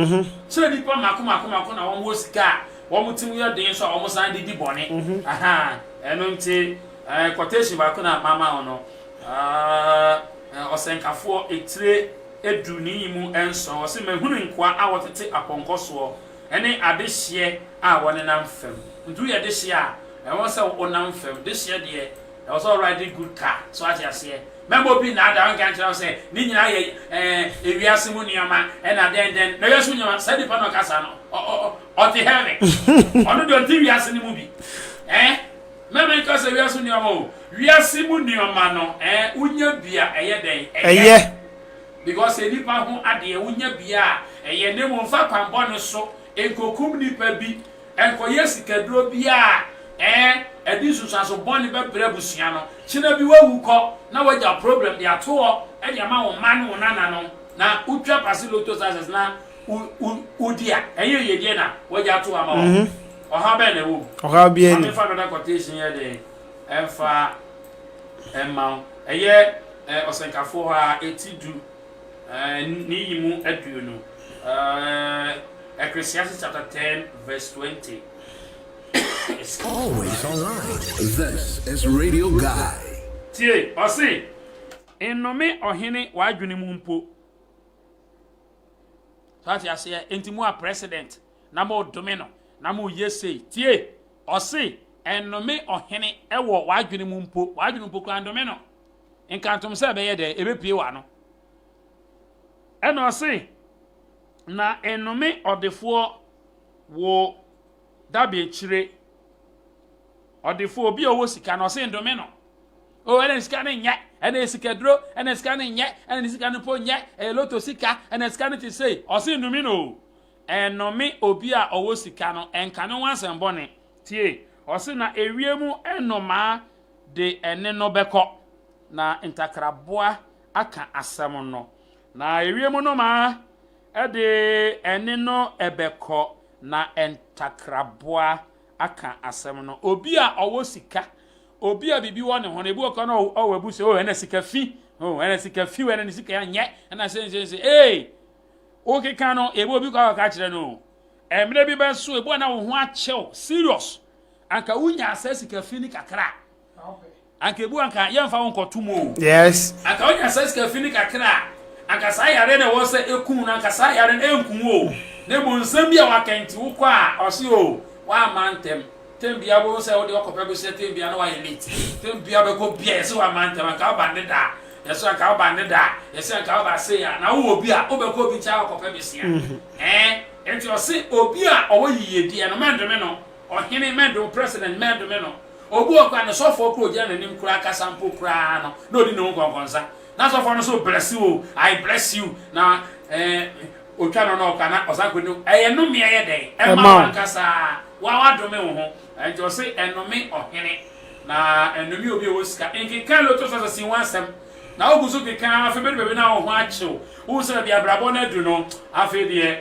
Speaker 3: Sɛ nnipa mako mako mako na wɔwɔ sika a, wɔn tirim yɛ den nso a, wɔsan de di bɔne. Ahaa, ɛno nti eh, quotation baako na mama wo no, ah, Ɔsɛnkafoɔ etire edu ne yi mu nson, ɔse, Mahunu nkoa a wɔtete apɔnkɔ soɔ, ne adehyeɛ a wɔnenam fam. Nti woyɛ dehyeɛ a, ɛwɔ sɛ wonam fam. Dehyeɛ deɛ, Ɛwɔ sɛ ɔride good car. So ate aseɛ? Mɛma obi nnaadaa ɔnka nkyerɛ wo sɛ ne nyinaa yɛ eh, ewiase mu nneɛma ɛna dɛn dɛn. Na wiase mu nneɛma, saa nipa na ɔka saa no, ɔte heaven. Ɔno deɛ ɔnte wiase no mu bi. Eh? Mɛma nka sɛ wiase mu nneɛma o. Wiase mu nneɛma no, eh, wonya bi a ɛyɛ dɛn? Ɛyɛ. Because yɛ nipa ho adeɛ, wonya bi a ɛyɛ. Ne mu mfa kwanbɔne so nkokum nipa bi. Nkɔyɛ sikaduro biara a ɛɛ ɛde nsunsuanso bɔne bɛbrɛ abusua no. Kyena bi wawu kɔ na wagya problem de ato hɔ de ama wo mma ne wo nananom na wotwa pase lotto success na wo wo wodi a, ɛnyɛ yiedie na wagya ato hɔ ama wɔn. Ɔhaw bɛn na ɛwɔ mu? Ɔhaw biara Ma nni mu. memfa
Speaker 1: another quotation nyɛ
Speaker 3: dɛn mfa mma wo. Ɛyɛ ɛɛ Ɔsɛnkafoɔ hɔ ara, eti du. ne yi mu aduru no, Ecclesiastes
Speaker 2: chapter ten verse twenty. Always online. This is Radio Guy. Tie, ɔse,
Speaker 3: Nnome ɔhene w'adwene mu mpo. So ate aseɛ? Enti mo a president na mo dome no na mo yɛ sei. Tie, ɔse, Nnome ɔhene wɔ w'adwene mu mpo. W'adwene mpo kura ndome no. nkantom sɛ ɛbɛyɛ dɛ, ebepue w'ano. Ɛnna ɔse, Na nnome ɔdefoɔ wo daberekyire, ɔdefoɔ, obi a ɔwɔ sika no, ɔse nnome no. O, ɛna ne sika no nyɛ, ɛna ɛyɛ sikaduro, ɛna ne sika no nyɛ, ɛna ne sika no mpo nyɛ, ɛyɛ loto sika, ɛna ne sika no te sei, ɔse nnome no o. Ɛnnome obi a ɔwɔ sika no, ɛnka ne ho asɛm bɔne. Tie! Ɔse, Na ewiem nnomaa de ɛne no bɛkɔ, na ntakraboa aka asɛm no. Na ewiem no ma ɛde ɛne no bɛkɔ, na ntakraboa aka asɛm no. Obi a ɔwɔ sika, obi a biribi wɔ ne ho no, ebi wɔ kora no ɔwɔ abu sɛ, oh, ɛna sika fi, oh, ɛna sika fi, ɛna ne sika nyɛ, ɛna sɛ nsɛ nsɛ, ee, wokeka no, ebi obi kɔ akɔka kyerɛ no, mmerɛ bi bɛso, ebi wɔ na wo ho akyɛw, serious. anka wonyaa saa sika fi ni kakra a anka ebu anka yɛmfa wo nkɔto mu o yes anka wonya
Speaker 1: saa sika
Speaker 3: fi ni kakra a anka saa yare na ɛwɔ sɛ ekum no anka saa yare no enkum o na mmom nsɛm bi a wakɛnti wokɔ a ɔse o wamma ntɛm tɛm bia wo sɛ wode ɔkɔpɛ bɛhyɛ tɛm bia na wayɛ late tɛm bia bɛkɔ bia yɛsɛ wamma ntɛm anka woba nne da a yɛsɛ anka woba nne da a yɛsɛ anka woba sei a na wowɔ bi a wobɛkɔ obi nkyɛn akɔpɛ bɛsia ɛɛ nti ɔse obi a ɔwɔ yiyedie no mɛndome no Ɔhene Medo, President Medo me no, obi wɔ hɔ koraa a, ne sɔfoɔ koraa a ɔgyina n'anim koraa kasa mpo koraa no, na ɔdi ne ho nkɔnkɔnsa. Na sɔfoɔ no nso bless wo, I bless you, na eh, ɔtwa no na ɔkɔ, na ɔsan kɔdi. Ɛyɛ nnome ɛyɛ dɛn? Ɛma wo ankasa, wo a woadome wo ho. Ɛnti ɔse, ɛnnome ɔhene, na ɛnnome obi a ɔwɔ sika. Nkeka Loto Sasasi ho asɛm, na wogu so keka ara, afei bɛdu baabi no a wo ho akye wo, wohu sɛ baabi a abrabɔ no adu no, afei deɛ,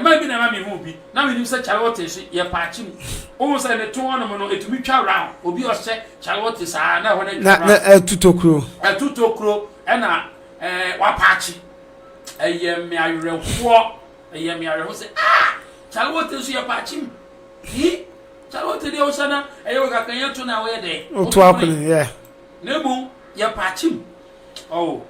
Speaker 3: Mmaa bi na ɛma mehu bi na menim sɛ kyalewote so yɛ paakye mu. Wohu sɛ ne to hɔnom no, ɛtumi twa round. Obi ɔhyɛ kyalewote saa na ɛhɔ no atwa round. Na ɛtu tokuro.
Speaker 1: Ɛtu tokuro ɛna
Speaker 3: wapaakye. Ɛyɛ me awerɛhoɔ. Ɛyɛ me awerɛhoɔ sɛ ah kyalewote nso yɛ paakye mu. Yi kyalewote deɛ wohyɛ na ɛyɛ wɔ kakra yɛn to na woyɛ dɛ. Wotu akɔne yɛ.
Speaker 1: Na mmom
Speaker 3: yɛ paakye mu. Oh,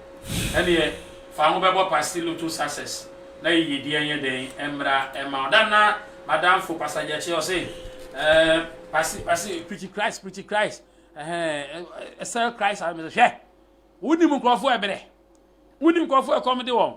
Speaker 3: ɛnneɛ fa wo ho bɛbɔ Pasty Lotto success na yiyedie nyɛ dɛn mmra mma wo. Da no na m'adamfo Pastor Gyekye ɔse, eh, Pasty, Pasty, preach Christ, preach Christ, eh, sell Christ, mese hwɛ, wonim nkurɔfoɔ ɛberɛ, wonim nkurɔfoɔ ɛkɔm de wɔn,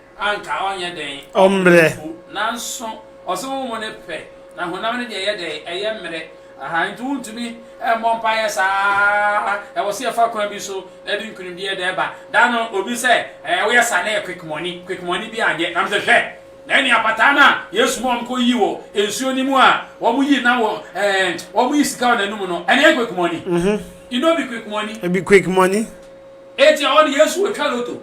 Speaker 3: anka ɔnyɛ dɛn? Ɔmmerɛ.
Speaker 1: Nanso,
Speaker 3: ɔse wo mu no pɛ, na honam no deɛ ɛyɛ dɛn? Ɛyɛ mmerɛ. Aha, enti wontumi mmɔ mpaeɛ saa ara. Ɛwɔ sɛ yɛfa kwan bi so na ɛde nkunimdie da ɛba. Da no, obi sɛ, Ɛɛ, woyɛ saa na ɛyɛ quick money, quick money bi anyɛ. Na mese, Hwɛ! Na ɛne apataa no a Yesu ma wɔkɔyii wɔ nsuo no mu a wɔyii na wɔ, ɛɛ, wɔyi sika wɔ n'anum no, ɛne ɛyɛ quick money. Mm-hmm. You know be quick money. Ɛbi quick
Speaker 1: money. Eti ɛhɔ
Speaker 3: no Yesu otwa loto.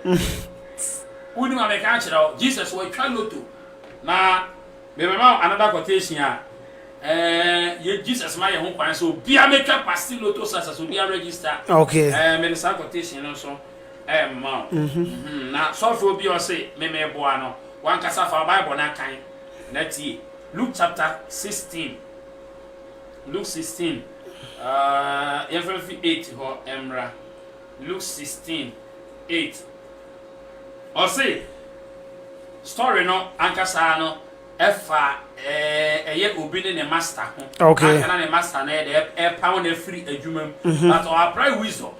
Speaker 3: S, Wonni ma meka nkyerɛ wo, Jesus watwa lotto na mebɛma wo another quotation a, eh, Jesus ma yɛn ho kwan sɛ obiara mɛtwa past lotto success, obiara register, Okay. eh, mede
Speaker 1: saa quotation
Speaker 3: no nso rema wo. Mhm, na sɔfoɔ bi a ɔse me meboa no, wankasa fa wo Bible no akan na tie. Luke chapter 16, Luke 16, eh, yɛmfa mfi 8 hɔ mmra. Luke sixteen eight ɔse story no ankasa no ɛfa ɛɛ ɛyɛ obi ne ne master ho Okay. anka na ne master
Speaker 1: no yɛ dɛ
Speaker 3: ɛp- ɛpaw no afiri adwuma mu Mhm. but ɔ apply wisdom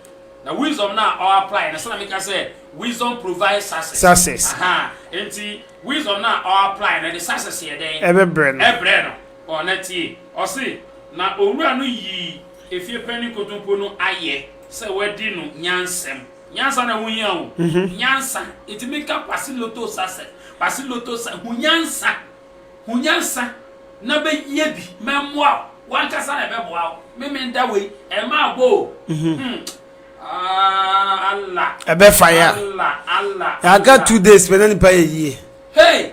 Speaker 3: na wisdom no a ɔ apply no sɛna meka sɛ wisdom provide success Success. aha nti wisdom no a ɔ apply no de success yɛ dɛn Ɛbɛbrɛ no. ɛbrɛ no
Speaker 1: ɔ
Speaker 3: na tie ɔse na owura no yii Efie panyin kotompo no ayɛ sɛ wadi no nyansam. Nyansa na ɛho hia o. Nyansa. Etumi ka Kwasi Lotto sa sɛ, Kwasi Lotto sa, hu nyansa. Hu nyansa na bɛyɛ bi. Mɛmmoa wo. W'ankasa na ɛbɛboa wo. Me meda wei. Ɛmma abɔ o. Hmm. Ah, Allah. Ɛbɛfa yɛ a.
Speaker 1: Allah, Allah, Allah.
Speaker 3: Yɛaka two days
Speaker 1: pɛ na nipa yɛ yie. Hey!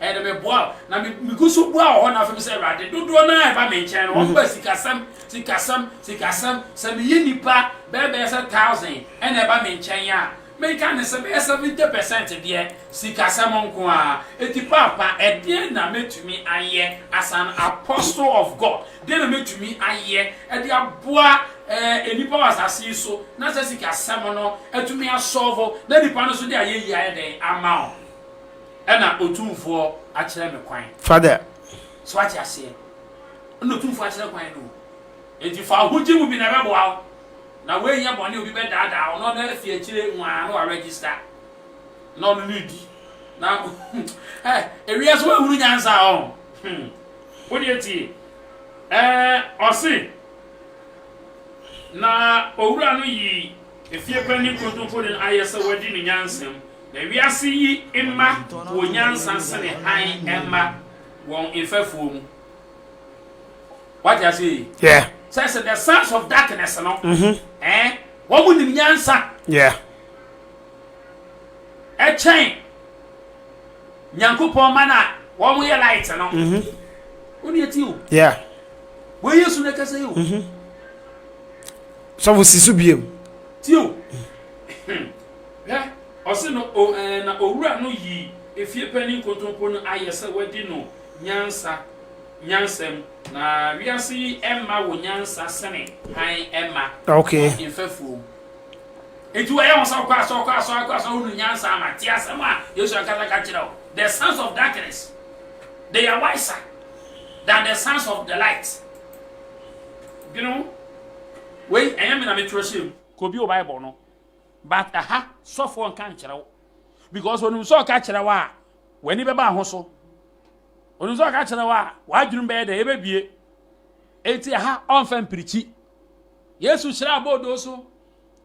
Speaker 3: Ɛɛ na meboa wo. Na me, megu so bua wɔ hɔ na afei mesɛ, Awurade, dodoɔ no ara a ɛba me nkyɛn no, wɔn ba sikasɛm, sikasɛm, sikasɛm. Sɛ meyɛ nnipa bɛyɛ bɛyɛ sɛ thousand na ɛba me nkyɛn a, menka ne sɛ bɛyɛ seventy percent deɛ, sikasɛm nko ara. Enti Paapa, ɛdeɛn na mɛtumi ayɛ as an apostle of God? Deɛn na mɛtumi ayɛ de aboa ɛɛ nnipa wɔ asase yi so na saa sikasɛm no atumi asɔɔvo na nnipa no nso de ayɛyie ayɛ dɛn ama wɔn? Ɛna Otumfoɔ akyerɛ me kwan. Father.
Speaker 1: So wate
Speaker 3: aseɛ? Ɛna Otumfoɔ akyerɛ kwan no o. Enti fa wo ho gye mu bi na ɛbɛboa wo. Na woanyɛ bɔne a obi bɛdaadaa wo na ɔno afei akyire nwaa na waregister na ɔno ne redi. Na eh, ewiase woahunu nyansa a ɔho. Hmm. Wo deɛ tie. Eh, ɔse, Na Owura no yii. Efiepanyin nkontompo de no ayɛ sɛ wadi ne nyansa mu, na wiase yi mma wɔ nyansa sene hann mma wɔn mfɛfoɔ mu. Wate aseɛ yi? Yeah. Sɛ sɛ the
Speaker 1: sons
Speaker 3: of darkness no, eh, wɔn nim nyansa
Speaker 1: Yeah.
Speaker 3: ɛkyɛn Nyankopɔn ma no a wɔn yɛ light no. Wo deɛ ti o, Yeah.
Speaker 1: wei Yesu
Speaker 3: na ɛkasa yi o.
Speaker 1: sɔfo si so bio. Tio,
Speaker 3: hwɛ, ɔse no o, ɛɛ, na owura no yi efiepanyin kontompo no ayɛ sɛ wadi no nyansa, nyansam, na wiase yi mma wo nyansa sene hann mma okay. wɔn mfɛfoɔ
Speaker 1: mu.
Speaker 3: Enti wɔyɛ ho sɛ ɔkɔ asɔ, ɔkɔ asɔ, ɔkɔ asɔ, wonu nyansa ama. Te asɛm a Yesu ankasa ka kyerɛ wo. The sons of darkness, they are wiser than the sons of the light. Dwene ho. Wei ɛnyɛ me na me twerɛ hyɛɛ mu. Kɔ bio bible no but ɛha sɔfoɔ nka nkyerɛ wo because onim sɛ ɔka kyerɛ wo a w'ani bɛba ho so onim sɛ ɔka kyerɛ wo a w'adwenem bɛyɛ dɛ ɛbɛbie enti ɛha ɔmfa mpirikyi Yesu hyira abɔɔdoo so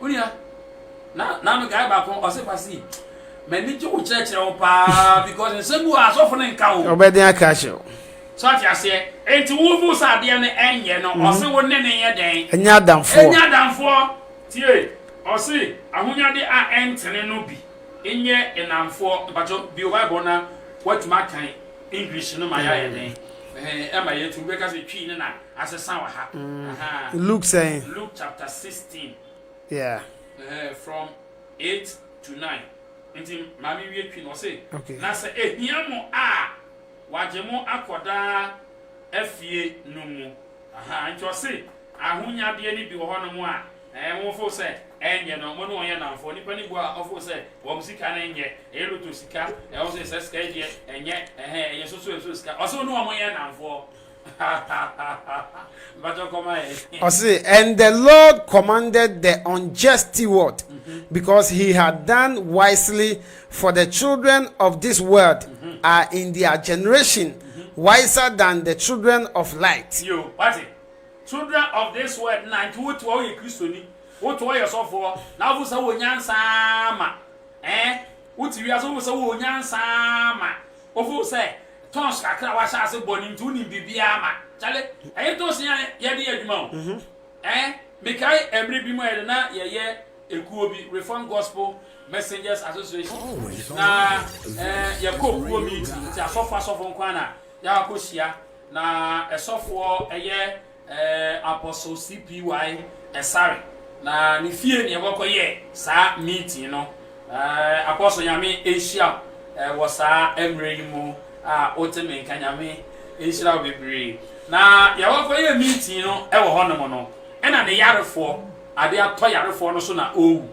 Speaker 3: Unia. Na na me guy baako ɔse kwasi. M'ani gye wo kyerɛkyerɛ wo paa because nsɛm bi wɔ asɔfo no nka wo. Ɔbɛden aka ahyɛ wo.
Speaker 1: So ate aseɛ.
Speaker 3: Enti wo fo sɛ adeɛ no ɛnyɛ no ɔse mhm. wo ne ne yɛ dɛn? Ɛnyɛ adamfoɔ. Ɛnyɛ
Speaker 1: adamfoɔ.
Speaker 3: Tie. Ɔse ahonyade a ɛntene no bi nyɛ enamfoɔ. Mpakyɛ bi o Bible na watumi akan English no ma yɛ ayɛ den. Ɛma yɛtu bɛka sɛ twi ne na. asesa wɔ ha. Luke
Speaker 1: sɛn? Luke chapter
Speaker 3: sixteen. Yeah.
Speaker 1: Ɛɛ from
Speaker 3: eight to nine. Nti maame wie twi no ɔse. Okay. Na sɛ ehia
Speaker 1: mo
Speaker 3: a wagye mo akɔ daa afie no mu. Ahaa nti ɔse ahonyadeɛ no bi wɔ hɔ nom a ɛɛ mo fo sɛ ɛnyɛ no mo ne wɔn yɛ namfoɔ. Nipa no bua a ɔfo sɛ wɔn sika no nyɛ ɛyɛ loto sika ɛɛ ɔse sɛ sika yi deɛ ɛnyɛ ɛhɛɛ ɛyɛ soso ɛso sika ɔse wo ne wɔn yɛ namfoɔ.
Speaker 1: Ɔse, and the Lord commanded the unjust steward, because he had done wisely, for the children of this world are in their generation wiser than the children of light. Yo, wate?
Speaker 3: Children of this world na nti wote hɔ woyɛ Kristoni, wote hɔ woyɛ sɔfoɔ, na wofo sɛ wowɔ nyansa ma, eh? Wote wiase wofo sɛ wowɔ nyansa ma. Wofow sɛ tons kakra a wahyɛ ase bɔ no nti wonim biribiara ma kyale ɛyɛ tons yi a yɛde yɛ adwuma o ɛɛ mekae ɛmere bi mu a yɛde na yɛyɛ ekuo bi reform gospel messengers association na ɛɛ yɛkɔ kuo meeting nti asɔfo asɔfo nkoa na yɛakɔ hyia na ɛsɔfoɔ ɛyɛ Apostle CPY Ɛsare na ne fie na yɛbɔkɔ yɛ saa meeting no. Apostle Nyame nhyira wo wɔ saa mmerɛ yi mu a wote me nka Nyame nhyira wo bebree. Na yɛbɔkɔ yɛ meeting no wɔ hɔ nom no ɛna ne yarefoɔ ade atɔ yarefoɔ no so na ɔrewu.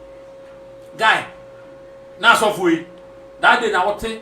Speaker 3: Guy na asɔfoɔ yi that day na wote.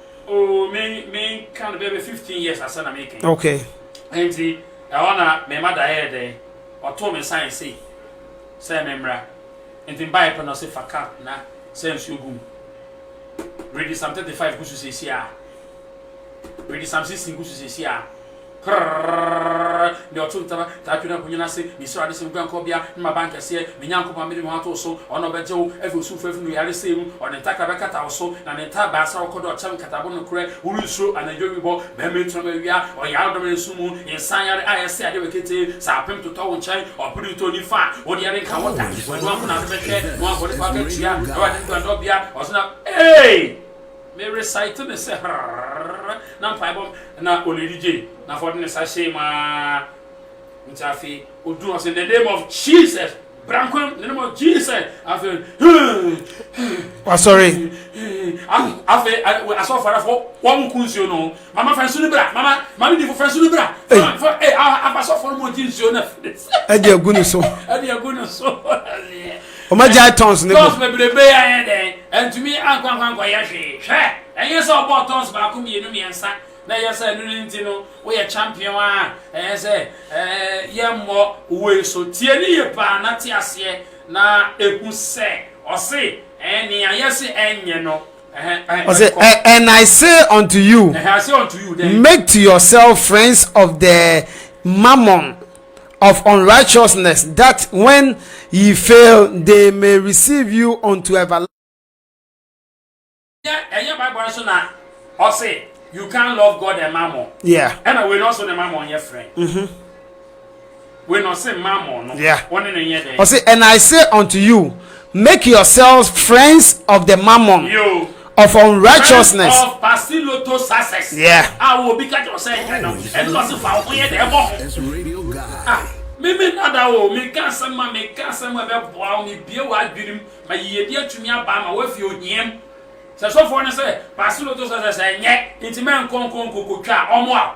Speaker 3: Oh, me me nka no bɛbɛ fifteen years asɛ na meka yi. Okay.
Speaker 1: Nti
Speaker 3: ɛhɔ na me mada yɛɛ dɛn ɔtoo me sign sei sɛ me mmra nti mbaeɛ pɛ na ɔse fa cup na sɛ nsuo gu mu. Ready Psalm thirty five gu so seesiaa. Ready Psalm sixteen gu so seesiaa. Krrrrrrrrrrr, nea ɔto ntama taa twene ahonyini ase, ne srade sɛ wo guankɔbea ne m'abankɛseɛ, me Nyankopɔn a mede me ho ato wo so, ɔno na ɔbɛgye wo afi osumfoɔ afiri ne oyaresa mu, ɔde ntakra bɛkata wo so, na ne ntaaboa asra wo kɔdɔ ɔkyɛm nkatabo nokorɛ, worensuro anadwo awibɔ, mammire torɔm awia, ɔyaredɔm na esum mu, nsan yare a ɛsɛe adeɛ wɔ ketee, sɛ apem totɔ wo nkyɛn, ɔpere ntɔ nni fa a, wo deɛ renka wo da, ɔno nko na wode bɛhwɛ, na wabɔ ne pɛ akatua, Awurade ne guandɔbea, ɔsoro na. Ei! Me recite ne sɛ hrrrrrrr na mpaebɔ na Olady J na afɔde ne sa hyɛɛ mu aa nti afei oduu hɔ se in the name of Jesus brankwam in the name of Jesus afei
Speaker 1: Wasɔre.
Speaker 3: afei asɔfo ara fo wɔn ku nsuo no ho Mama fa nsu no bra. Mama, maame difo fa nsu no bra. Mama fa eh afa sɔfo no mu ɔgye nsuo no afiri ne nsa. Ɛde agu ne
Speaker 1: so. Ɛde agu ne so.
Speaker 3: Wɔn
Speaker 1: agya tons ne bo. Tons bebrebe yɛ ayɛ
Speaker 3: dɛn? Ɛntumi ankwankwankwa yɛ hwee. Hwɛ, ɛnyɛ sɛ ɔbɔɔ tons baako mmienu mmiɛnsa na ɛyɛ sɛ ɛno ne nti no woyɛ champion a ɛyɛ sɛ ɛɛ yɛmmɔ wei so. Tie ne yie paa na te aseɛ na ehu sɛ ɔse ɛɛ nea yɛse ɛnyɛ no. ɔsɛ
Speaker 1: and i say unto you make
Speaker 3: to yourself
Speaker 1: friends of the mammon of unrighteousness that when ye fail they may receive you unto everlasting ɛnyɛ bible no so na ɔse you can't love god and
Speaker 3: mammon yeah ɛna wei no ɔso
Speaker 1: ne mammon
Speaker 3: yɛ friend mm -hmm.
Speaker 1: Ɔse,
Speaker 3: And I say
Speaker 1: unto you, Make yourselves friends of the mammon of unrighteousness.
Speaker 3: Yeah.
Speaker 2: meme nada
Speaker 3: o meka asɛm a meka asɛm a ɛbɛboa wo mebie w'adwenem ma yiyedi atumi aba ma woafi ohiam sɛ sɔfoɔ no sɛ paase loto sɛ sɛ sɛ ɛnyɛ nti mɛnkɔ nkɔ nkɔkɔtwa ɔmo a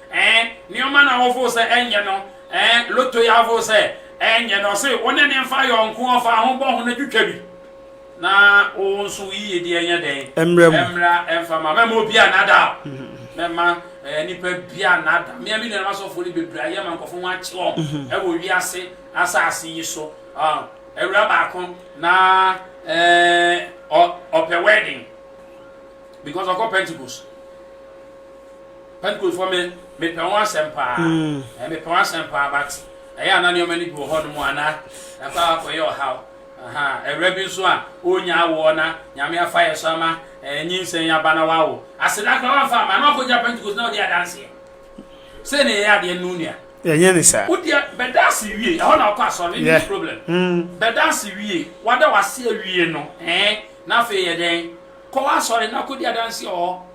Speaker 3: Ɛɛ, nneɛma no a wofoo sɛ ɛnyɛ no, ɛɛ, loto yi a wofoo sɛ ɛnyɛ no, ɔse wo ne no mfa yɔnko ɔfa ho bɔ ho na twitwa bi na wo nso wo yiyedi nyɛ dɛn? Ɛmmra mu. Ɛmmra mfa mma. Mɛmma obi annaadaa wo. Mɛmma ɛɛ, nnipa bi annaadaa. Me ara me nuanom asɔfoɔ no bebree ayɛ ma nkurɔfoɔ ho akye wɔn wɔ wiase asase yi so. Ɔɔ, awuraa baako, na ɛɛ, ɔ, ɔpɛ wedding because ɔkɔ Pentecost. Pentecostefoɔ me me pɛ wɔn asɛm paa ɛɛ me pɛ wɔn asɛm paa but ɛyɛ a na nneɛma no bi wɔ hɔ nom a na ɛkɔ a kɔ yɛ ɔhaw aha ɛwura bi nso a ɔnya awoɔ na nyame afa yɛ so ama ɛɛ nyinsɛn aba na wawo aseda kora wɔn fa ama na ɔkɔ gya pentecost na ɔde adanseɛ sɛ ne yɛ adeɛ no nua yɛnyɛ ne saa
Speaker 1: wodeɛ bɛda ase
Speaker 3: wie ɛhɔ na ɔkɔ asɔre ne yeah. problem mm. bɛda ase wie wada wase awie no ɛɛ na afei yɛ dɛn kɔ asɔre na kɔdi adanseɛ ɔɔ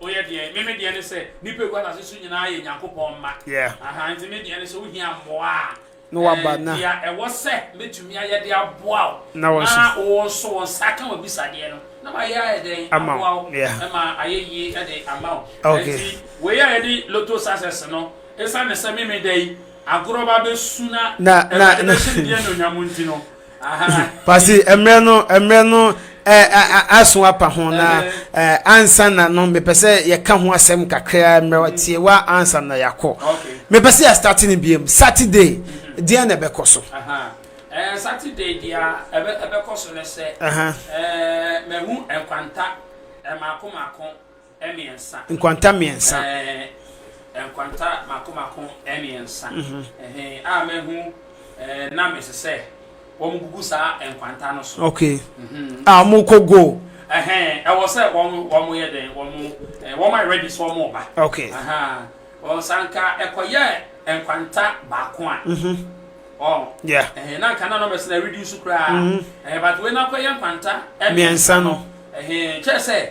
Speaker 3: Woyɛ deɛn? Me me deɛ ne sɛ nnipa ɛgu asase so nyinaa yɛ Nyankopɔn mma. Yeah. Aha, nti me deɛ ne sɛ wohia mmoa a, Na waba, na.
Speaker 1: deɛ ɛwɔ sɛ
Speaker 3: mɛtumi ayɛ de aboa wo Na na wɔso. wo
Speaker 1: nso wo
Speaker 3: nsa ka w'abisadeɛ no na mayɛ ayɛ dɛn Ama wo, aboa wo yeah. ma ayɛ yie de ama wo. Okay. Nti wei
Speaker 1: a yɛde
Speaker 3: Lotto success no, ɛsiane sɛ me me da yi agorɔ ba bɛsu na Na, na, Awurade
Speaker 1: na. bɛhyɛ ne din anuonyam
Speaker 3: nti no, pasi
Speaker 1: mmerɛ no mmerɛ no aso apa ho na ansa na no mepɛ sɛ yɛka ho asɛm kakra mmerɛ tie wa ansa na yɛakɔ mepɛ sɛ yɛstarte no biam saturday deɛ na ɛbɛkɔ so saturday
Speaker 3: deɛ ɛbɛkɔ so no sɛ mahu nkwanta mako mako mmiɛnsa. Nkwanta mmiɛnsa.
Speaker 1: Ɛɛ, nkwanta
Speaker 3: mako mako mmiɛnsa. Mhm. Ɛhɛn, a mahu ɛɛ na mese sɛ wɔn gugu saa nkwanta no so. Okay.
Speaker 1: Mhm. A wɔn kɔ go. Ɛhɛn, ɛwɔ
Speaker 3: sɛ wɔn wɔn yɛ dɛn wɔn ɛɛ wɔn ayɛ ready sɛ wɔn ba. Okay. Ahaa,
Speaker 1: wɔn
Speaker 3: sanka ɛkɔyɛ nkwanta baako a. Mhm. Wɔn.
Speaker 1: Yeah. Ɛhɛn, na nka na na
Speaker 3: mɛsɛn ɛredi nsu koraa. Mhm. Ɛhɛn, but wei na akɔyɛ nkwanta mmiɛnsa no.
Speaker 1: Ɛhɛn, kyerɛ sɛ.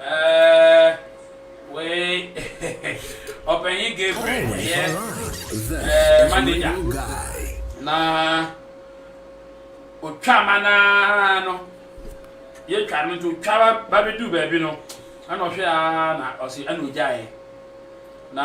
Speaker 3: Ɛɛɛɛ wei Ɔpanyin Gabriel yɛ ɛɛɛ manager na otwa ma no ara no, yɛtwa no nti otwa ba ba bɛduu baabi no, ɛna ɔhwɛ ara na ɔse ɛna ogyaeɛ na.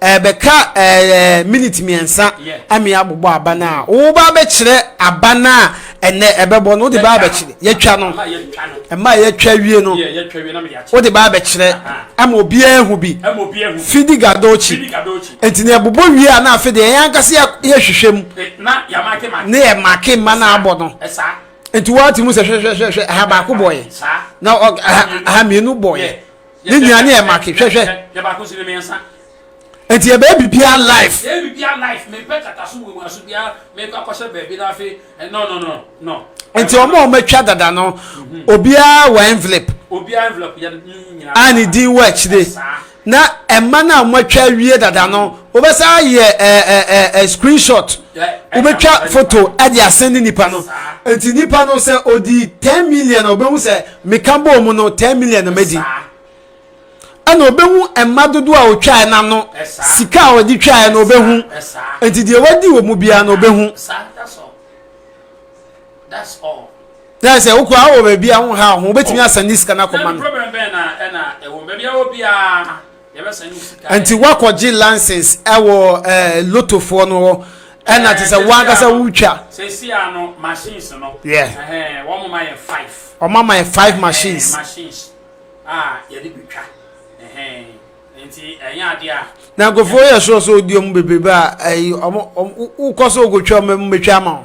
Speaker 1: ɛbɛka ɛɛ miniti mmiɛnsa ɛmi abobɔ aba no a woba abɛkyerɛ aba no a ɛnɛ ɛbɛbɔ no wode ba abɛkyerɛ yɛtwa no ɛma yɛtwa wie no wode ba abɛkyerɛ ɛma obiara ehu bi fidi gadokyi nti na ɛbobɔ wie a na afei deɛ yɛn ankasa yɛhwehwɛ mu
Speaker 3: ne yɛ make mma
Speaker 1: no abɔ no nti wɔate mu sɛ hwɛhwɛhwɛhwɛ aha baako bɔeɛ na aha mmienu bɔeɛ ne nyinaa ne yɛ make hwɛhwɛ
Speaker 3: nti yɛ
Speaker 1: bɛyɛ bibia
Speaker 3: life nti ɔmo a
Speaker 1: ɔmatwa dada no mhm. obiara wɔ envelope
Speaker 3: a ne din wɔ akyire
Speaker 1: na ɛma no a moatwa awie dada no mhm. wobɛsa yɛ screenshot wobɛtwa foto de asɛne nipa no nti nipa no sɛ ɔdi 10 million a wobɛhu sɛ Meka bɔɔ mu no, 10 million na madi. Ɛna ɔbɛhu mma dodoɔ a ɔtwaeɛ no ano, sika a ɔde twaeɛ no ɔbɛhu, nti deɛ wadi wɔ mu biara no ɔbɛhu.
Speaker 3: Yɛ sɛ wokɔ
Speaker 1: awɔ baabi a ho ha ho wobɛtumi asane sika no akɔma no.
Speaker 3: nti woakɔgye
Speaker 1: license ɛwɔ ɛɛ eh, lotofoɔ no hɔ ɛna te sɛ wankasa wotwa. sɛsi a no
Speaker 3: machines no. yeah wɔn mo ma yɛ five. wɔn ma ma yɛ
Speaker 1: five machines. machines a
Speaker 3: yɛde bi twa nti ɛnyɛ adeɛ a. na nkurɔfoɔ yɛ sure
Speaker 1: sɛ odi wɔn bebrebe a ɛyi wɔn wokɔ so okotwa wɔn mu betwa ama wɔn.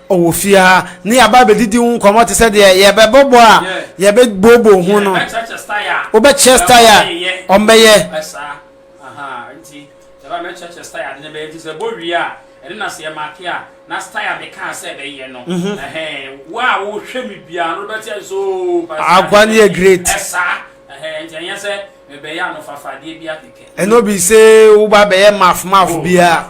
Speaker 1: wɔ fie ha ne yɛaba abɛdidi ho nkɔmmɔ te sɛ deɛ yɛbɛbɔbɔ a yɛbɛbooboo ho no wobɛkyerɛ style a ɔmbɛyɛ
Speaker 3: ɛne na sɛ yɛmake a na style a mekaa sɛ ɛbɛyɛ no wo a wohwɛ me biara no wobɛte ɛ so agua ne yɛ great
Speaker 1: ɛsaa nti
Speaker 3: ɛnyɛ sɛ mebɛyɛ anofafadeɛ bi akekɛ ɛno bi sɛ
Speaker 1: woba bɛyɛ mafmaf biara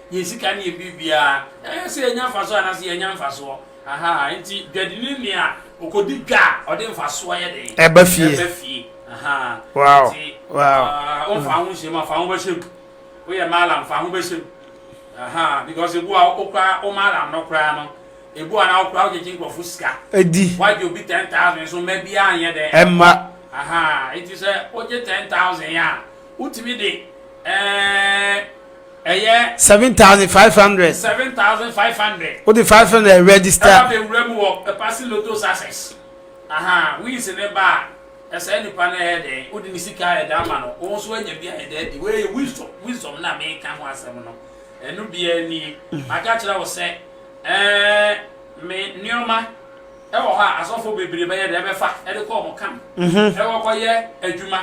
Speaker 3: Yɛn sika ne yɛn biribiara, ɛyɛ sɛ yɛnya mfasoɔ anaasɛ yɛnnya mfasoɔ. Ahaa, enti dwadini ne nea ɔkɔdi dwa a ɔde mfasoɔ yɛ dɛn? Ɛba fie. Ɛba fie.
Speaker 1: Ahaa. Wow. Enti, wow. Uh,
Speaker 3: womfa ho nhyɛ mu a, fa ho bɛhyɛ mu. Woyɛ malam, fa ho bɛhyɛ mu. Ahaa, because ebu a wokora wo malam no koraa no, ebu a na wokora wogyegye nkurɔfo sika. Edi. Wagye obi
Speaker 1: ten thousand
Speaker 3: so mma biara nyɛ dɛn? Ɛmma. Ahaa,
Speaker 1: enti
Speaker 3: sɛ wogye ten thousand a, wotumi de ɛɛ. Eh, Ɛyɛ. Seven thousand five
Speaker 1: hundred. Seven thousand five hundred. O de five hundred register. Ɛba bɛ wura mu wɔ
Speaker 3: Epasi Lotto success. Ahaa wins ne ba a, ɛsɛɛ nipa no ɛyɛ dɛn? Wo de ne sika a ɛda ama no, wo nso anya bi ayɛ dɛn adi? Wei yɛ wisdom, wisdom no a meka ho asɛm no, ɛno biara nie. Maka kyerɛ wo sɛ, ɛɛ me nneɛma ɛwɔ hɔ a asɔfo bebree bɛyɛ dɛn? Ɛbɛfa ɛde kɔ wɔn camp, ɛwɔ kɔyɛ adwuma.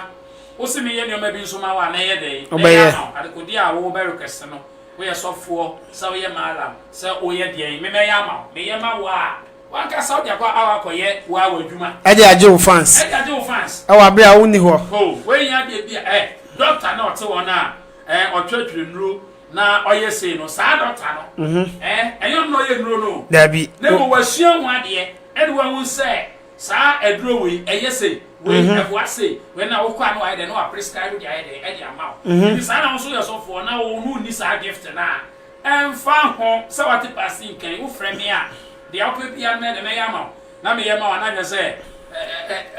Speaker 3: Wose menyɛ nneɛma bi nso ma wo a, na ɛyɛ dɛn? Wobɛyɛ. Ɛyɛ ama wo. Adekodeɛ a wowɔ bɛyere kɛse no, woyɛ sɔfoɔ, sɛ woyɛ mallam, sɛ woyɛ deɛn, me mɛyɛ ama wo. Meyɛ ma wo a, w'ankasa wode akɔ aw akɔyɛ wo ara w'adwuma. Ɛde agye wo fans.
Speaker 1: Ɛde agye wo fans. Ɛwɔ abere a wonni hɔ. Oh, woahia adeɛ bi
Speaker 3: a, eh, doctor na ɔte wɔn a, eh, ɔtwetwe nnuro na ɔyɛ sei no, saa doctor no, eh, ɛnyɛ ɔno na ɔyɛ nnuro no o. Daabi. Na mmom
Speaker 1: wasua ho
Speaker 3: adeɛ, ɛde wahu sɛ. Saa aduro wei ɛyɛ sei, wei ɛboa sei, wei na wokɔ a na wayɛ dɛn na waprescribe de ayɛ dɛn de ama wo. Nti saa na wo nso woyɛ ɔsɔfoɔ na wo na wonni saa gift no a, ɛmfa ho sɛ woate Pasi nkɛn, wofrɛ me a, deɛ wopɛ biara no mɛyɛ dɛn, mɛyɛ ama wo. Na meyɛ ma wo a na hwɛ sɛ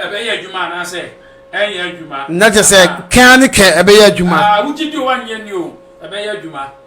Speaker 3: ɛbɛyɛ adwuma anaasɛ ɛrenyɛ adwuma. Na kyerɛ sɛ kɛn
Speaker 1: ara ne kɛn ɛbɛyɛ adwuma. Aa, wogye di o, wannye nni
Speaker 3: o, ɛbɛyɛ adwuma.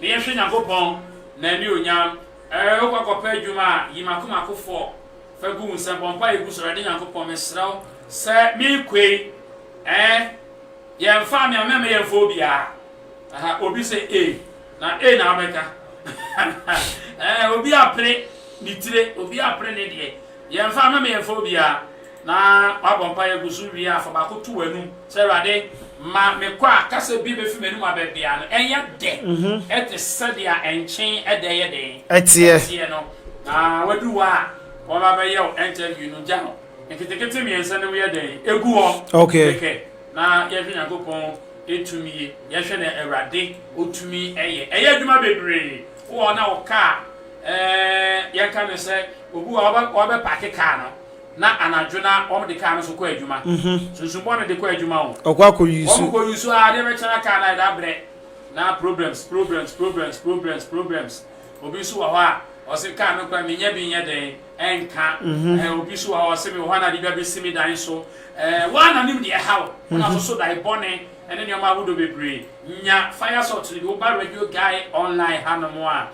Speaker 3: Ne yɛhwɛ Nyankopɔn N'anionyam. Ɛɛ wokɔ akɔpɛ adwuma a, yi mako mako fɔ fa gu wo nsam, bɔ mpaeɛ gu so, Awurade Nyankopɔn, mesrɛ wo sɛ merekɔ yi, ɛɛ yɛmfaa me amma mma yɛmfa obiara. Aha, obi sɛ A, na A na wobɛka. Ɛɛ obi apere ne tire, obi apere ne deɛ. Yɛmfa a mɛma yɛmfa obiara. Na wabɔ mpaeɛ agu so wie a, fa baako to w'anum sɛ, Awurade, ma mekɔ a kasa bi bɛfiri m'anum aba biara no ɛnyɛ dɛ te sɛ deɛ nkyene da yɛ dɛn teɛ no. Na waduru hɔ a wɔba abɛyɛ wo ɛntɛview no, gya no nketekete mmiɛnsa na mu yɛ dɛn ɛgu hɔ kɛkɛ na
Speaker 1: yɛhwɛ
Speaker 3: Nyankopɔn tumie. Yɛhwɛ deɛ Awurade ɔtumi yɛ. Ɛyɛ adwuma bebree wɔ hɔ na ɔka a yɛka no sɛ Obi wɔ hɔ a, ɔbɛpaake kaa no, na anadwo no ara wɔde kaa no nso kɔ adwuma. Sunsum bɔne de kɔ adwuma o. Ɔkɔ akɔyi su. Wɔkɔ
Speaker 1: yi su ara, adeɛ
Speaker 3: bɛkyɛn a kaa no ayɛ dɛ abrɛ. Na problems, problems, problems, problems, problems. Obi nso wɔ hɔ a, ɔse kaa no koraa menyɛ bi nyɛ dɛn, ɛnka. Ɛhɛn, obi nso wɔ hɔ a, ɔse mewɔ hɔ a na ade bi abɛsi me dan so. Ɛɛ, wo ara na wonim deɛ ɛha wo. Wo na wososo dae bɔne ne nneɛma ahodoɔ bebree. Nya fire salt no bi. Woba Radio Guy Online hanom a,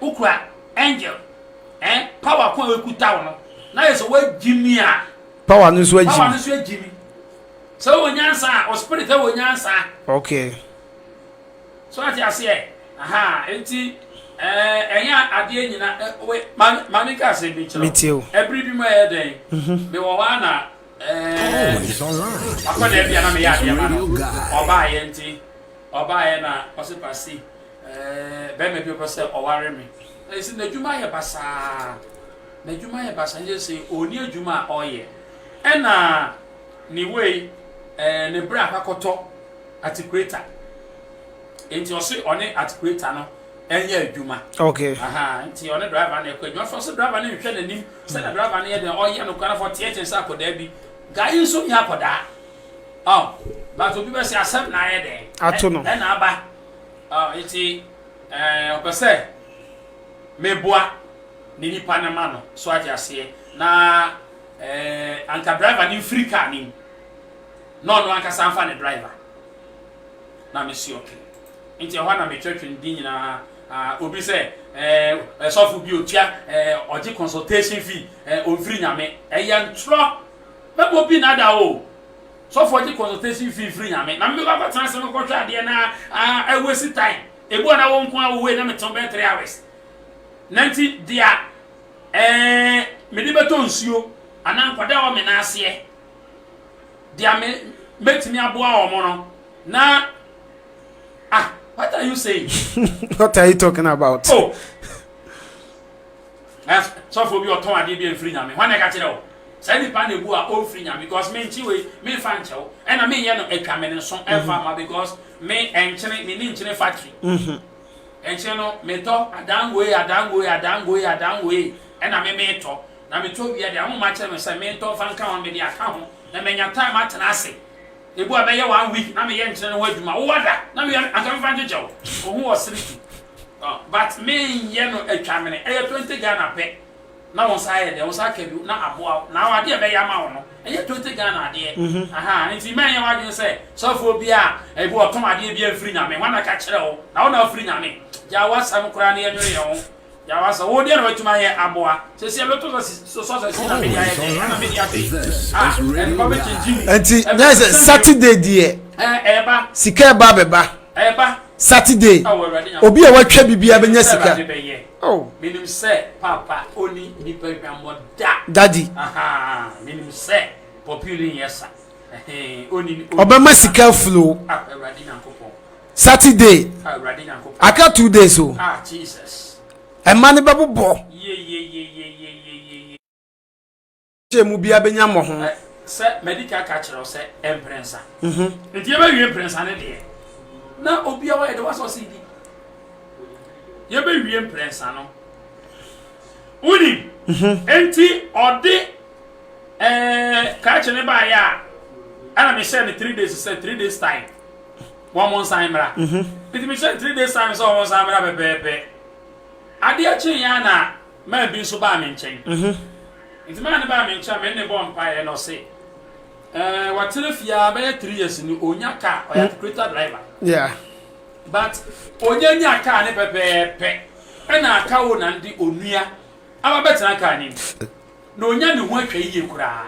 Speaker 3: wokura angel eh, power ko a ekuta wo no na yɛ sɛ wagyi mi a power no nso agyi
Speaker 1: power no nso agyi mi
Speaker 3: sɛ wɔ nyansa a wɔ spirit wɔ nyansa okay so ate aseɛ aha nti ɛnyɛ eh, adeɛ nyina eh, maame ka asɛm bi kyerɛ ɛbere bi mu ɛyɛ dɛn mhm. mewɔ hɔ a na eh,
Speaker 2: akɔda bi a na meyɛ
Speaker 3: adeɛ ma no ɔbaayɛ nti ɔbaayɛ na ɔse pasi Barima bi pɛ sɛ ɔware me. Na ɛsɛ n'adwuma yɛ basaa. N'adwuma yɛ basaa. Ɛsɛ sɛ ɔni adwuma a ɔyɛ. Ɛna ne wei ne bra akɔtɔ atikureta. Nti ɔse ɔne atikureta no ɛnyɛ adwuma. Okay. Aha.
Speaker 1: Nti ɔne
Speaker 3: driver no ɛkɔ adwuma. Afei ɔse driver no nhwɛ n'anim. Sɛnea hmm. driver no yɛ dɛn ɔyɛ no kwan afɔ teɛteɛ sɛ akɔdaa bi. Gaa yi nso nyɛ akɔdaa. Ɔ. But obi bɛsɛ asɛm na ayɛ dɛn. Ato no. Ɛna aba. Ah, enti eh, ɔpɛ sɛ meboa ne nipa no ma no, so agye aseɛ, na eh, anka driver no mfiri kaa no mu, na ɔno ankasa mfa ne driver. Na mesi ɔke. Nti ɛhɔ na metwa twene di nyinaa. Ah, obi sɛ, eh, ɛsɔfo bi otua, eh, ɔgye consultation fee, eh, ɔmfiri nyame. Ɛyɛ ntorɔ. Mɛbɔ bi nada o. Sɔfoɔ gye consultation fee firi Nyame na me bɛkɔ akɔtena ase no kɔhwɛ adeɛ na ah I waste time ebi wɔ na wo nkoa wo wei na me te wo bɛyɛ three hours na nti dea eh me de bɛtɔ nsuo anaa nkwadaa a wɔ me nan aseɛ dea me mɛtumi aboa wɔn no na ah what are you saying what are you
Speaker 1: talking about oh.
Speaker 3: Ɛ sɔfoɔ bi ɔtɔn adeɛ bi a ɛmfiri Nyame hɔ na ɛka kyerɛ wo saa nipa no ɛbu a ɔmfiri Nyame because menkye wei memfa nkyɛ wo ɛna menyɛ no atwa me ne so ɛmfa mma because me ɛnkyene menni nkyene factory ɛnkyene no metɔ adangoe adangoe adangoe adangoe ɛna me metɔ na metɔ wia deɛ ahoma kyerɛ me sɛ mentɔ mfa nka ho mede aka ho na manya time atena ase ɛbu a bɛyɛ one week na meyɛ nkyene no ho adwuma wowada na meyɛ anka mefa nkyekyɛ wo ɔhu wɔ sere tu But me nyɛ no atwa mene ɛyɛ twenty Ghana pɛ na wo nsa ayɛ dɛn wo nsa aka bi na aboa wo na adeɛ ɛbɛyɛ ama wo no ɛnyɛ twenty Ghana adeɛ ahaa nti mɛnyɛ w'adwene sɛ sɔfoɔ bi a ebi ɔtɔn adeɛ bi amfiri nyame hwan na ka kyerɛ wo na wo na afiri nyame gyaa w'asɛm koraa na yɛnwene yɛn ho gyaa w'asɛm wo deɛ na watumi ayɛ aboa sɛsi ɛbɛtɔ sɛ sɔsɛ si na mede ayɛ dɛn ɛna mede ase ah ɛnpa bɛkyɛ gyimi ɛnti nyɛ
Speaker 1: sɛ Saturday deɛ ɛba sika
Speaker 3: ɛba bɛba
Speaker 1: Saturday obi a watwa bibia bɛnya sika oh. daddy
Speaker 3: ɔbɛma sika
Speaker 1: flow
Speaker 3: Saturday aka two days o ɛma no
Speaker 1: bɛbobɔ Sɛ emu biara bɛnya mmɔho.
Speaker 3: Sɛ madi ka ka kyerɛ wo sɛ mprɛnsa. Mhm. Nti yɛbɛwie mprɛnsa ne deɛ na obiara yɛde wasɔ ɔse di. Yɛbɛwie mprɛnsa no. Wonim? Mhm. Nti ɔde ɛɛ kakye ne baayɛ a ɛna mehyɛ no three days sɛ three days time wɔn mo nsan mmra. Mhm. Nti mehyɛ no three days time sɛ wɔn nsan mmra pɛpɛɛpɛ. Adeɛ kyeeɛ a na Maa bi nso baa me nkyɛn. Nti maa no baa me nkyɛn a me ne no bɔɔ mpaeɛ na ɔse eh, watena fie a bɛyɛ three years ni, ɔnya car, ɔyɛ articulator driver. Yeah.
Speaker 1: But
Speaker 3: ɔnya nya car ne pɛpɛɛpɛ ɛna akawo na nde ɔnua aba bɛtena car ne mu. na onya ne ho atwa yiye koraa.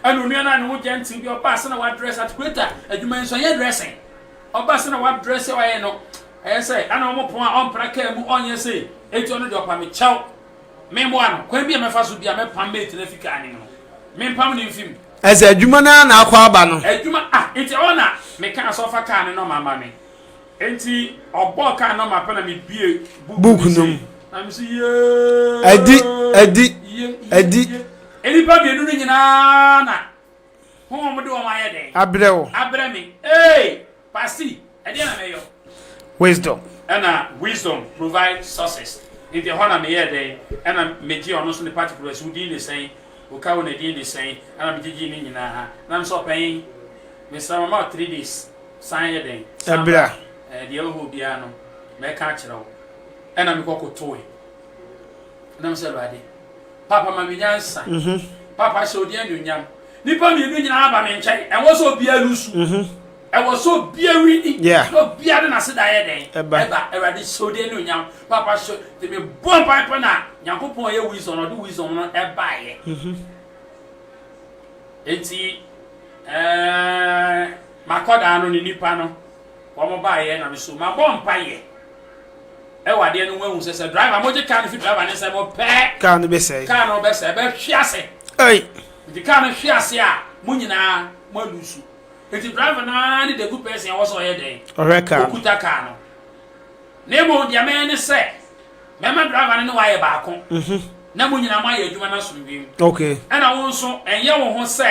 Speaker 3: Ɛna onua no a ne ho gentle bi ɔbaa sɛ na wadress at creator adwuma yi nso ɛnyɛ dressing ɔbaa sɛ na wadress sɛ ɔyɛ no ɛyɛ sɛ ɛna wɔn pɔn a ɔmpra kaa mu ɔnyɛ sɛ eti ɔno deɛ ɔpa me kyɛw me mmoa no kwan bi a mɛfa so bi a mɛpam mate no afi kaa ne mu no mempam ne mfim. Ɛsɛ adwuma no ara
Speaker 1: na akɔ aba no. Adwuma ah nti
Speaker 3: ɔna meka asɔfa kaa ne nɔma ama me. Enti ɔbɔɔ kaa no ma pɛ na mebue book Book no no sei. mu.
Speaker 1: Na me se
Speaker 3: Adi, adi,
Speaker 1: yee, yee, adi. yee. Nnipa
Speaker 3: mmienu no nyinaa na honhom de wɔn ayɛ dɛn? Abrɛ wo. Abrɛ me. Ee! Pasi, ɛdeɛn na mɛyɔ? Wisdom.
Speaker 1: Ɛna Wisdom
Speaker 3: provide sources. Nti ɛhɔ na meyɛɛ dɛn? Ɛna megyee ɔno nso ne particulars, wo din de sɛn? Wo ka wo na din de sɛn? Ɛna megyegyee ne nyinaa. Na me se, Ɔpanyin, mesrɛ mama wo three days. San yɛ dɛn? San bra. Ɛɛ,
Speaker 1: deɛ ɛwɔ hɔ
Speaker 3: biara no, mɛka akyerɛ wo. Ɛna mekɔ kotoe. Ɛna mesɛ, Awurade, Papa ma me nyansa. Mhm. Papa hyɛ wo din anuonyam. Nnipa mmienu nyinaa ba me nkyɛn. Ɛwɔ sɛ obiara lusu. Mhm. Ɛwɔ sɛ obiara wini. Yeah. Na obiara de n'aseda yɛ dɛn? Ɛba. Ɛba. Awurade hyɛ wo din anuonyam. Papa hyɛ. Te me bɔ mpae pɛ na Nyankopɔn a ɔyɛ wisdom no, ɔde wisdom no ɛbaeɛ. Mhm. Enti, ɛɛ. M'akwadaa no ne nnipa no wɔn baeɛ na me so mabɔ mpaeɛ ɛwɔ adeɛ no ho ahu sɛ sɛ driver mogye car no fi driver ne nsɛm mo pɛɛ car no bɛsɛe car no
Speaker 1: bɛsɛe bɛhwe
Speaker 3: ase ɛi
Speaker 1: nti car no hwe
Speaker 3: ase a mo nyinaa mo alusu nti driver no ara ne the good person ɛwɔ sɛ ɔyɛ dɛn ɔhwɛ car okuta car
Speaker 1: no
Speaker 3: na mmom deɛ mɛyɛ ne sɛ mɛma driver no ne wayɛ baako mm -hmm. na mo nyinaa mo ayɛ adwuma no asomdwem okay. ɛna wo
Speaker 1: nso
Speaker 3: ɛnyɛ wo ho sɛ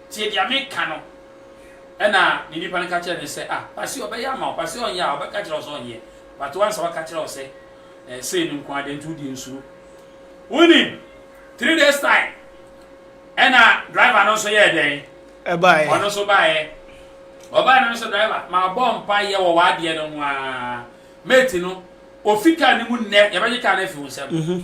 Speaker 3: Tie deɛ meka no. Ɛnna ne nnipa no ka kyerɛɛ no sɛ, Ah, ba se ɔbɛyɛ ama wo, ba se ɔnyɛ a, ɔbɛka akyerɛ wo sɛ ɔnyɛ, but woansa waka kyerɛ wo sɛ ɛɛ sei no nko ara, dɛn nti wode nsuro? Wonim, three days time, ɛnna driver no nso yɛɛ dɛn? Ɛbaeɛ. Ɔno nso
Speaker 1: baeɛ.
Speaker 3: Ɔbaeɛ no nso driver, mabɔ mpaeɛ wɔ w'adeɛ no ho ara, mate no, ɔfi kaa no mu nnɛ, yɛbɛgye kaa no afi wo nsam.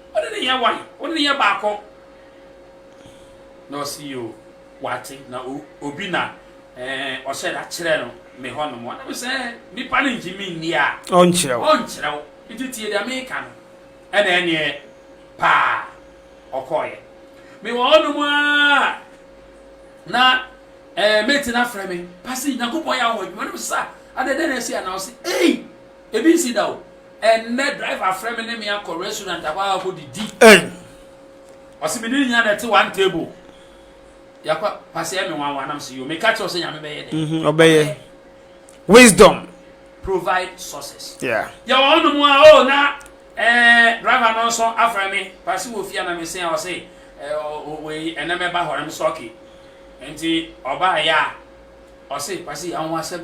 Speaker 3: Wo ne no yɛ wan? Wo ne no yɛ baako. Na ɔse yoo wate na obi na eh ɔhyɛ da kyerɛ no me hɔ nom. Ɔna me sɛ eh nipa no ngye me nni a ɔnkyerɛ wo
Speaker 1: nti tie
Speaker 3: deɛ me ka no. Ɛna ɛneɛ paa ɔkɔɔyɛ. Me wɔ hɔ nom aa na eh mate no afrɛ me pase Nyankopɔn yɛ a wo wɔ adwuma. Ɔna me sɛ sa adɛn dɛn na asi a na ɔse ei ebi nsi da o. Ɛnnɛ, driver frɛ me ne me akɔ restaurant akɔ akɔ didi. Ɛn. Ɔsi me ne ne nyinaa na ɛte one table. Yakɔ pasɛ me wanwa nam si yo. Me ka kyerɛ sɛ nyame bɛyɛ dɛ. Mhm, ɔbɛyɛ.
Speaker 1: Wisdom. Provide
Speaker 3: sources. Yeah. Yɛ wɔ hɔnom
Speaker 1: a o
Speaker 3: oh, na eh, driver no nso afrɛ me pasi wɔ fie na me se a ɔse eh, wei ɛnɛ mɛba hɔ na me sɛ ɔke. Nti ɔbaa yɛ a ɔse pasi anwa sɛ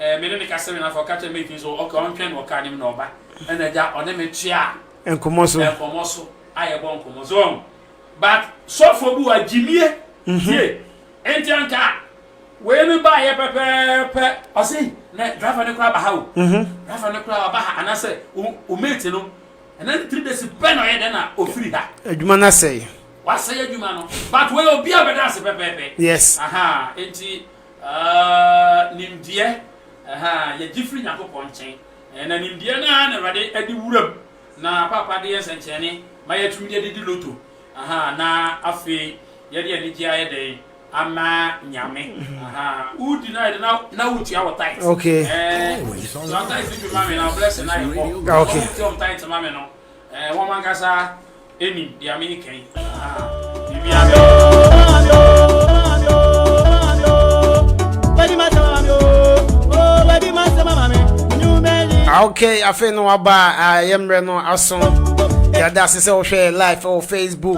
Speaker 3: Eh, me ne no kasa wie no, afei ɔka kyerɛ Mike nso, ok, ɔntwɛn wɔ kaa nim na ɔba. Ɛna agya, ɔne me toaa nkɔmmɔ so. Nkɔmmɔ so, a yɛbɔ nkɔmmɔ so. Wɔn, but sɔfoɔ bi wɔ a, gyimie, mhm. tie. Enti anka, wei no baa yɛ pɛpɛɛpɛ, ɔse, na driver no koraa ba ha o. Mhm. Driver no koraa ɔba ha, anaasɛ o mate no, ɛna ne three days pɛ na ɔyɛ dɛn na ɔfiri ha. Adwuma no asɛe.
Speaker 1: Wasɛe adwuma
Speaker 3: no, but wei obi a bɛda ase pɛpɛɛpɛ. Yes. Aha,
Speaker 1: enti.
Speaker 3: Aah nimdeɛ ahaa yɛgye firi Nyankopɔn nkyɛn na nimdeɛ no ara na Awurade ɛde wura mu na Paapa de yɛ nsɛnkyerɛnne ma yɛatumi de ɛde di loto ahaa na afei yɛde anigyeɛ ayɛ dɛn ama Nyame ahaa wo di no ayɛ dɛn na wo tua wɔ tithe ɛɛɛ
Speaker 1: tua
Speaker 3: tithe no bi ma me na wo blessing no ayɛ kɔ wɔn tua wɔn
Speaker 1: tithe ma me
Speaker 3: no ɛɛɛ wɔn ankasa Enim dea meeka
Speaker 1: yi ahaa bibia me. Ok afei no waba yɛ mmerɛ no aso yɛde ase sɛ wohwɛ live wɔ facebook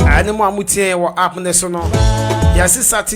Speaker 1: ɛne mu a motie wɔ app ne so no yɛse sate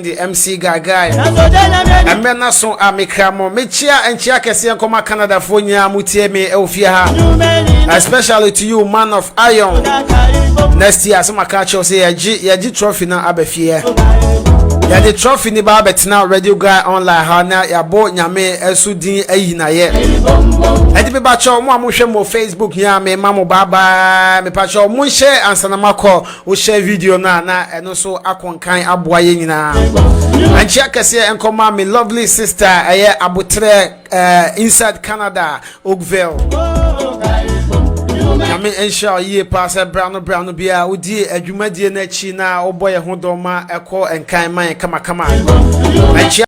Speaker 1: de MC Gagae. Ɛmɛ na so a mekra mo. Mekyia nkyia kɛseɛ nkɔma Canadafoɔ nyinaa mo tie me ɛwɔ fie ha. Especially to you man of iron. Next year sɛ maka kyerɛw sɛ yɛgye yɛgye trophy no aba fie. Yɛde trophy ni ba abɛtena Radio Guy online ha na yɛabɔ nyame ɛso din ayi na yɛ. Ɛde beba kyɛw mo a mohwɛ mo Facebook nyinaa me ma mo bye bye. Mepa kyɛw mo nhyɛ ansanama kɔ. wohyɛ video no a na ɛno nso akonkan aboa yɛ nyinaa ankyea kɛseɛ nkɔma me lovely sister ɛyɛ aboterɛ uh, inside canada oakville nyame nhyira wo yie paa sɛ bra no bra no biara wodie adwumadie no akyi na wobɔ yɛ ho dɔma ɛkɔ nkan ma yɛ kamakama ankyea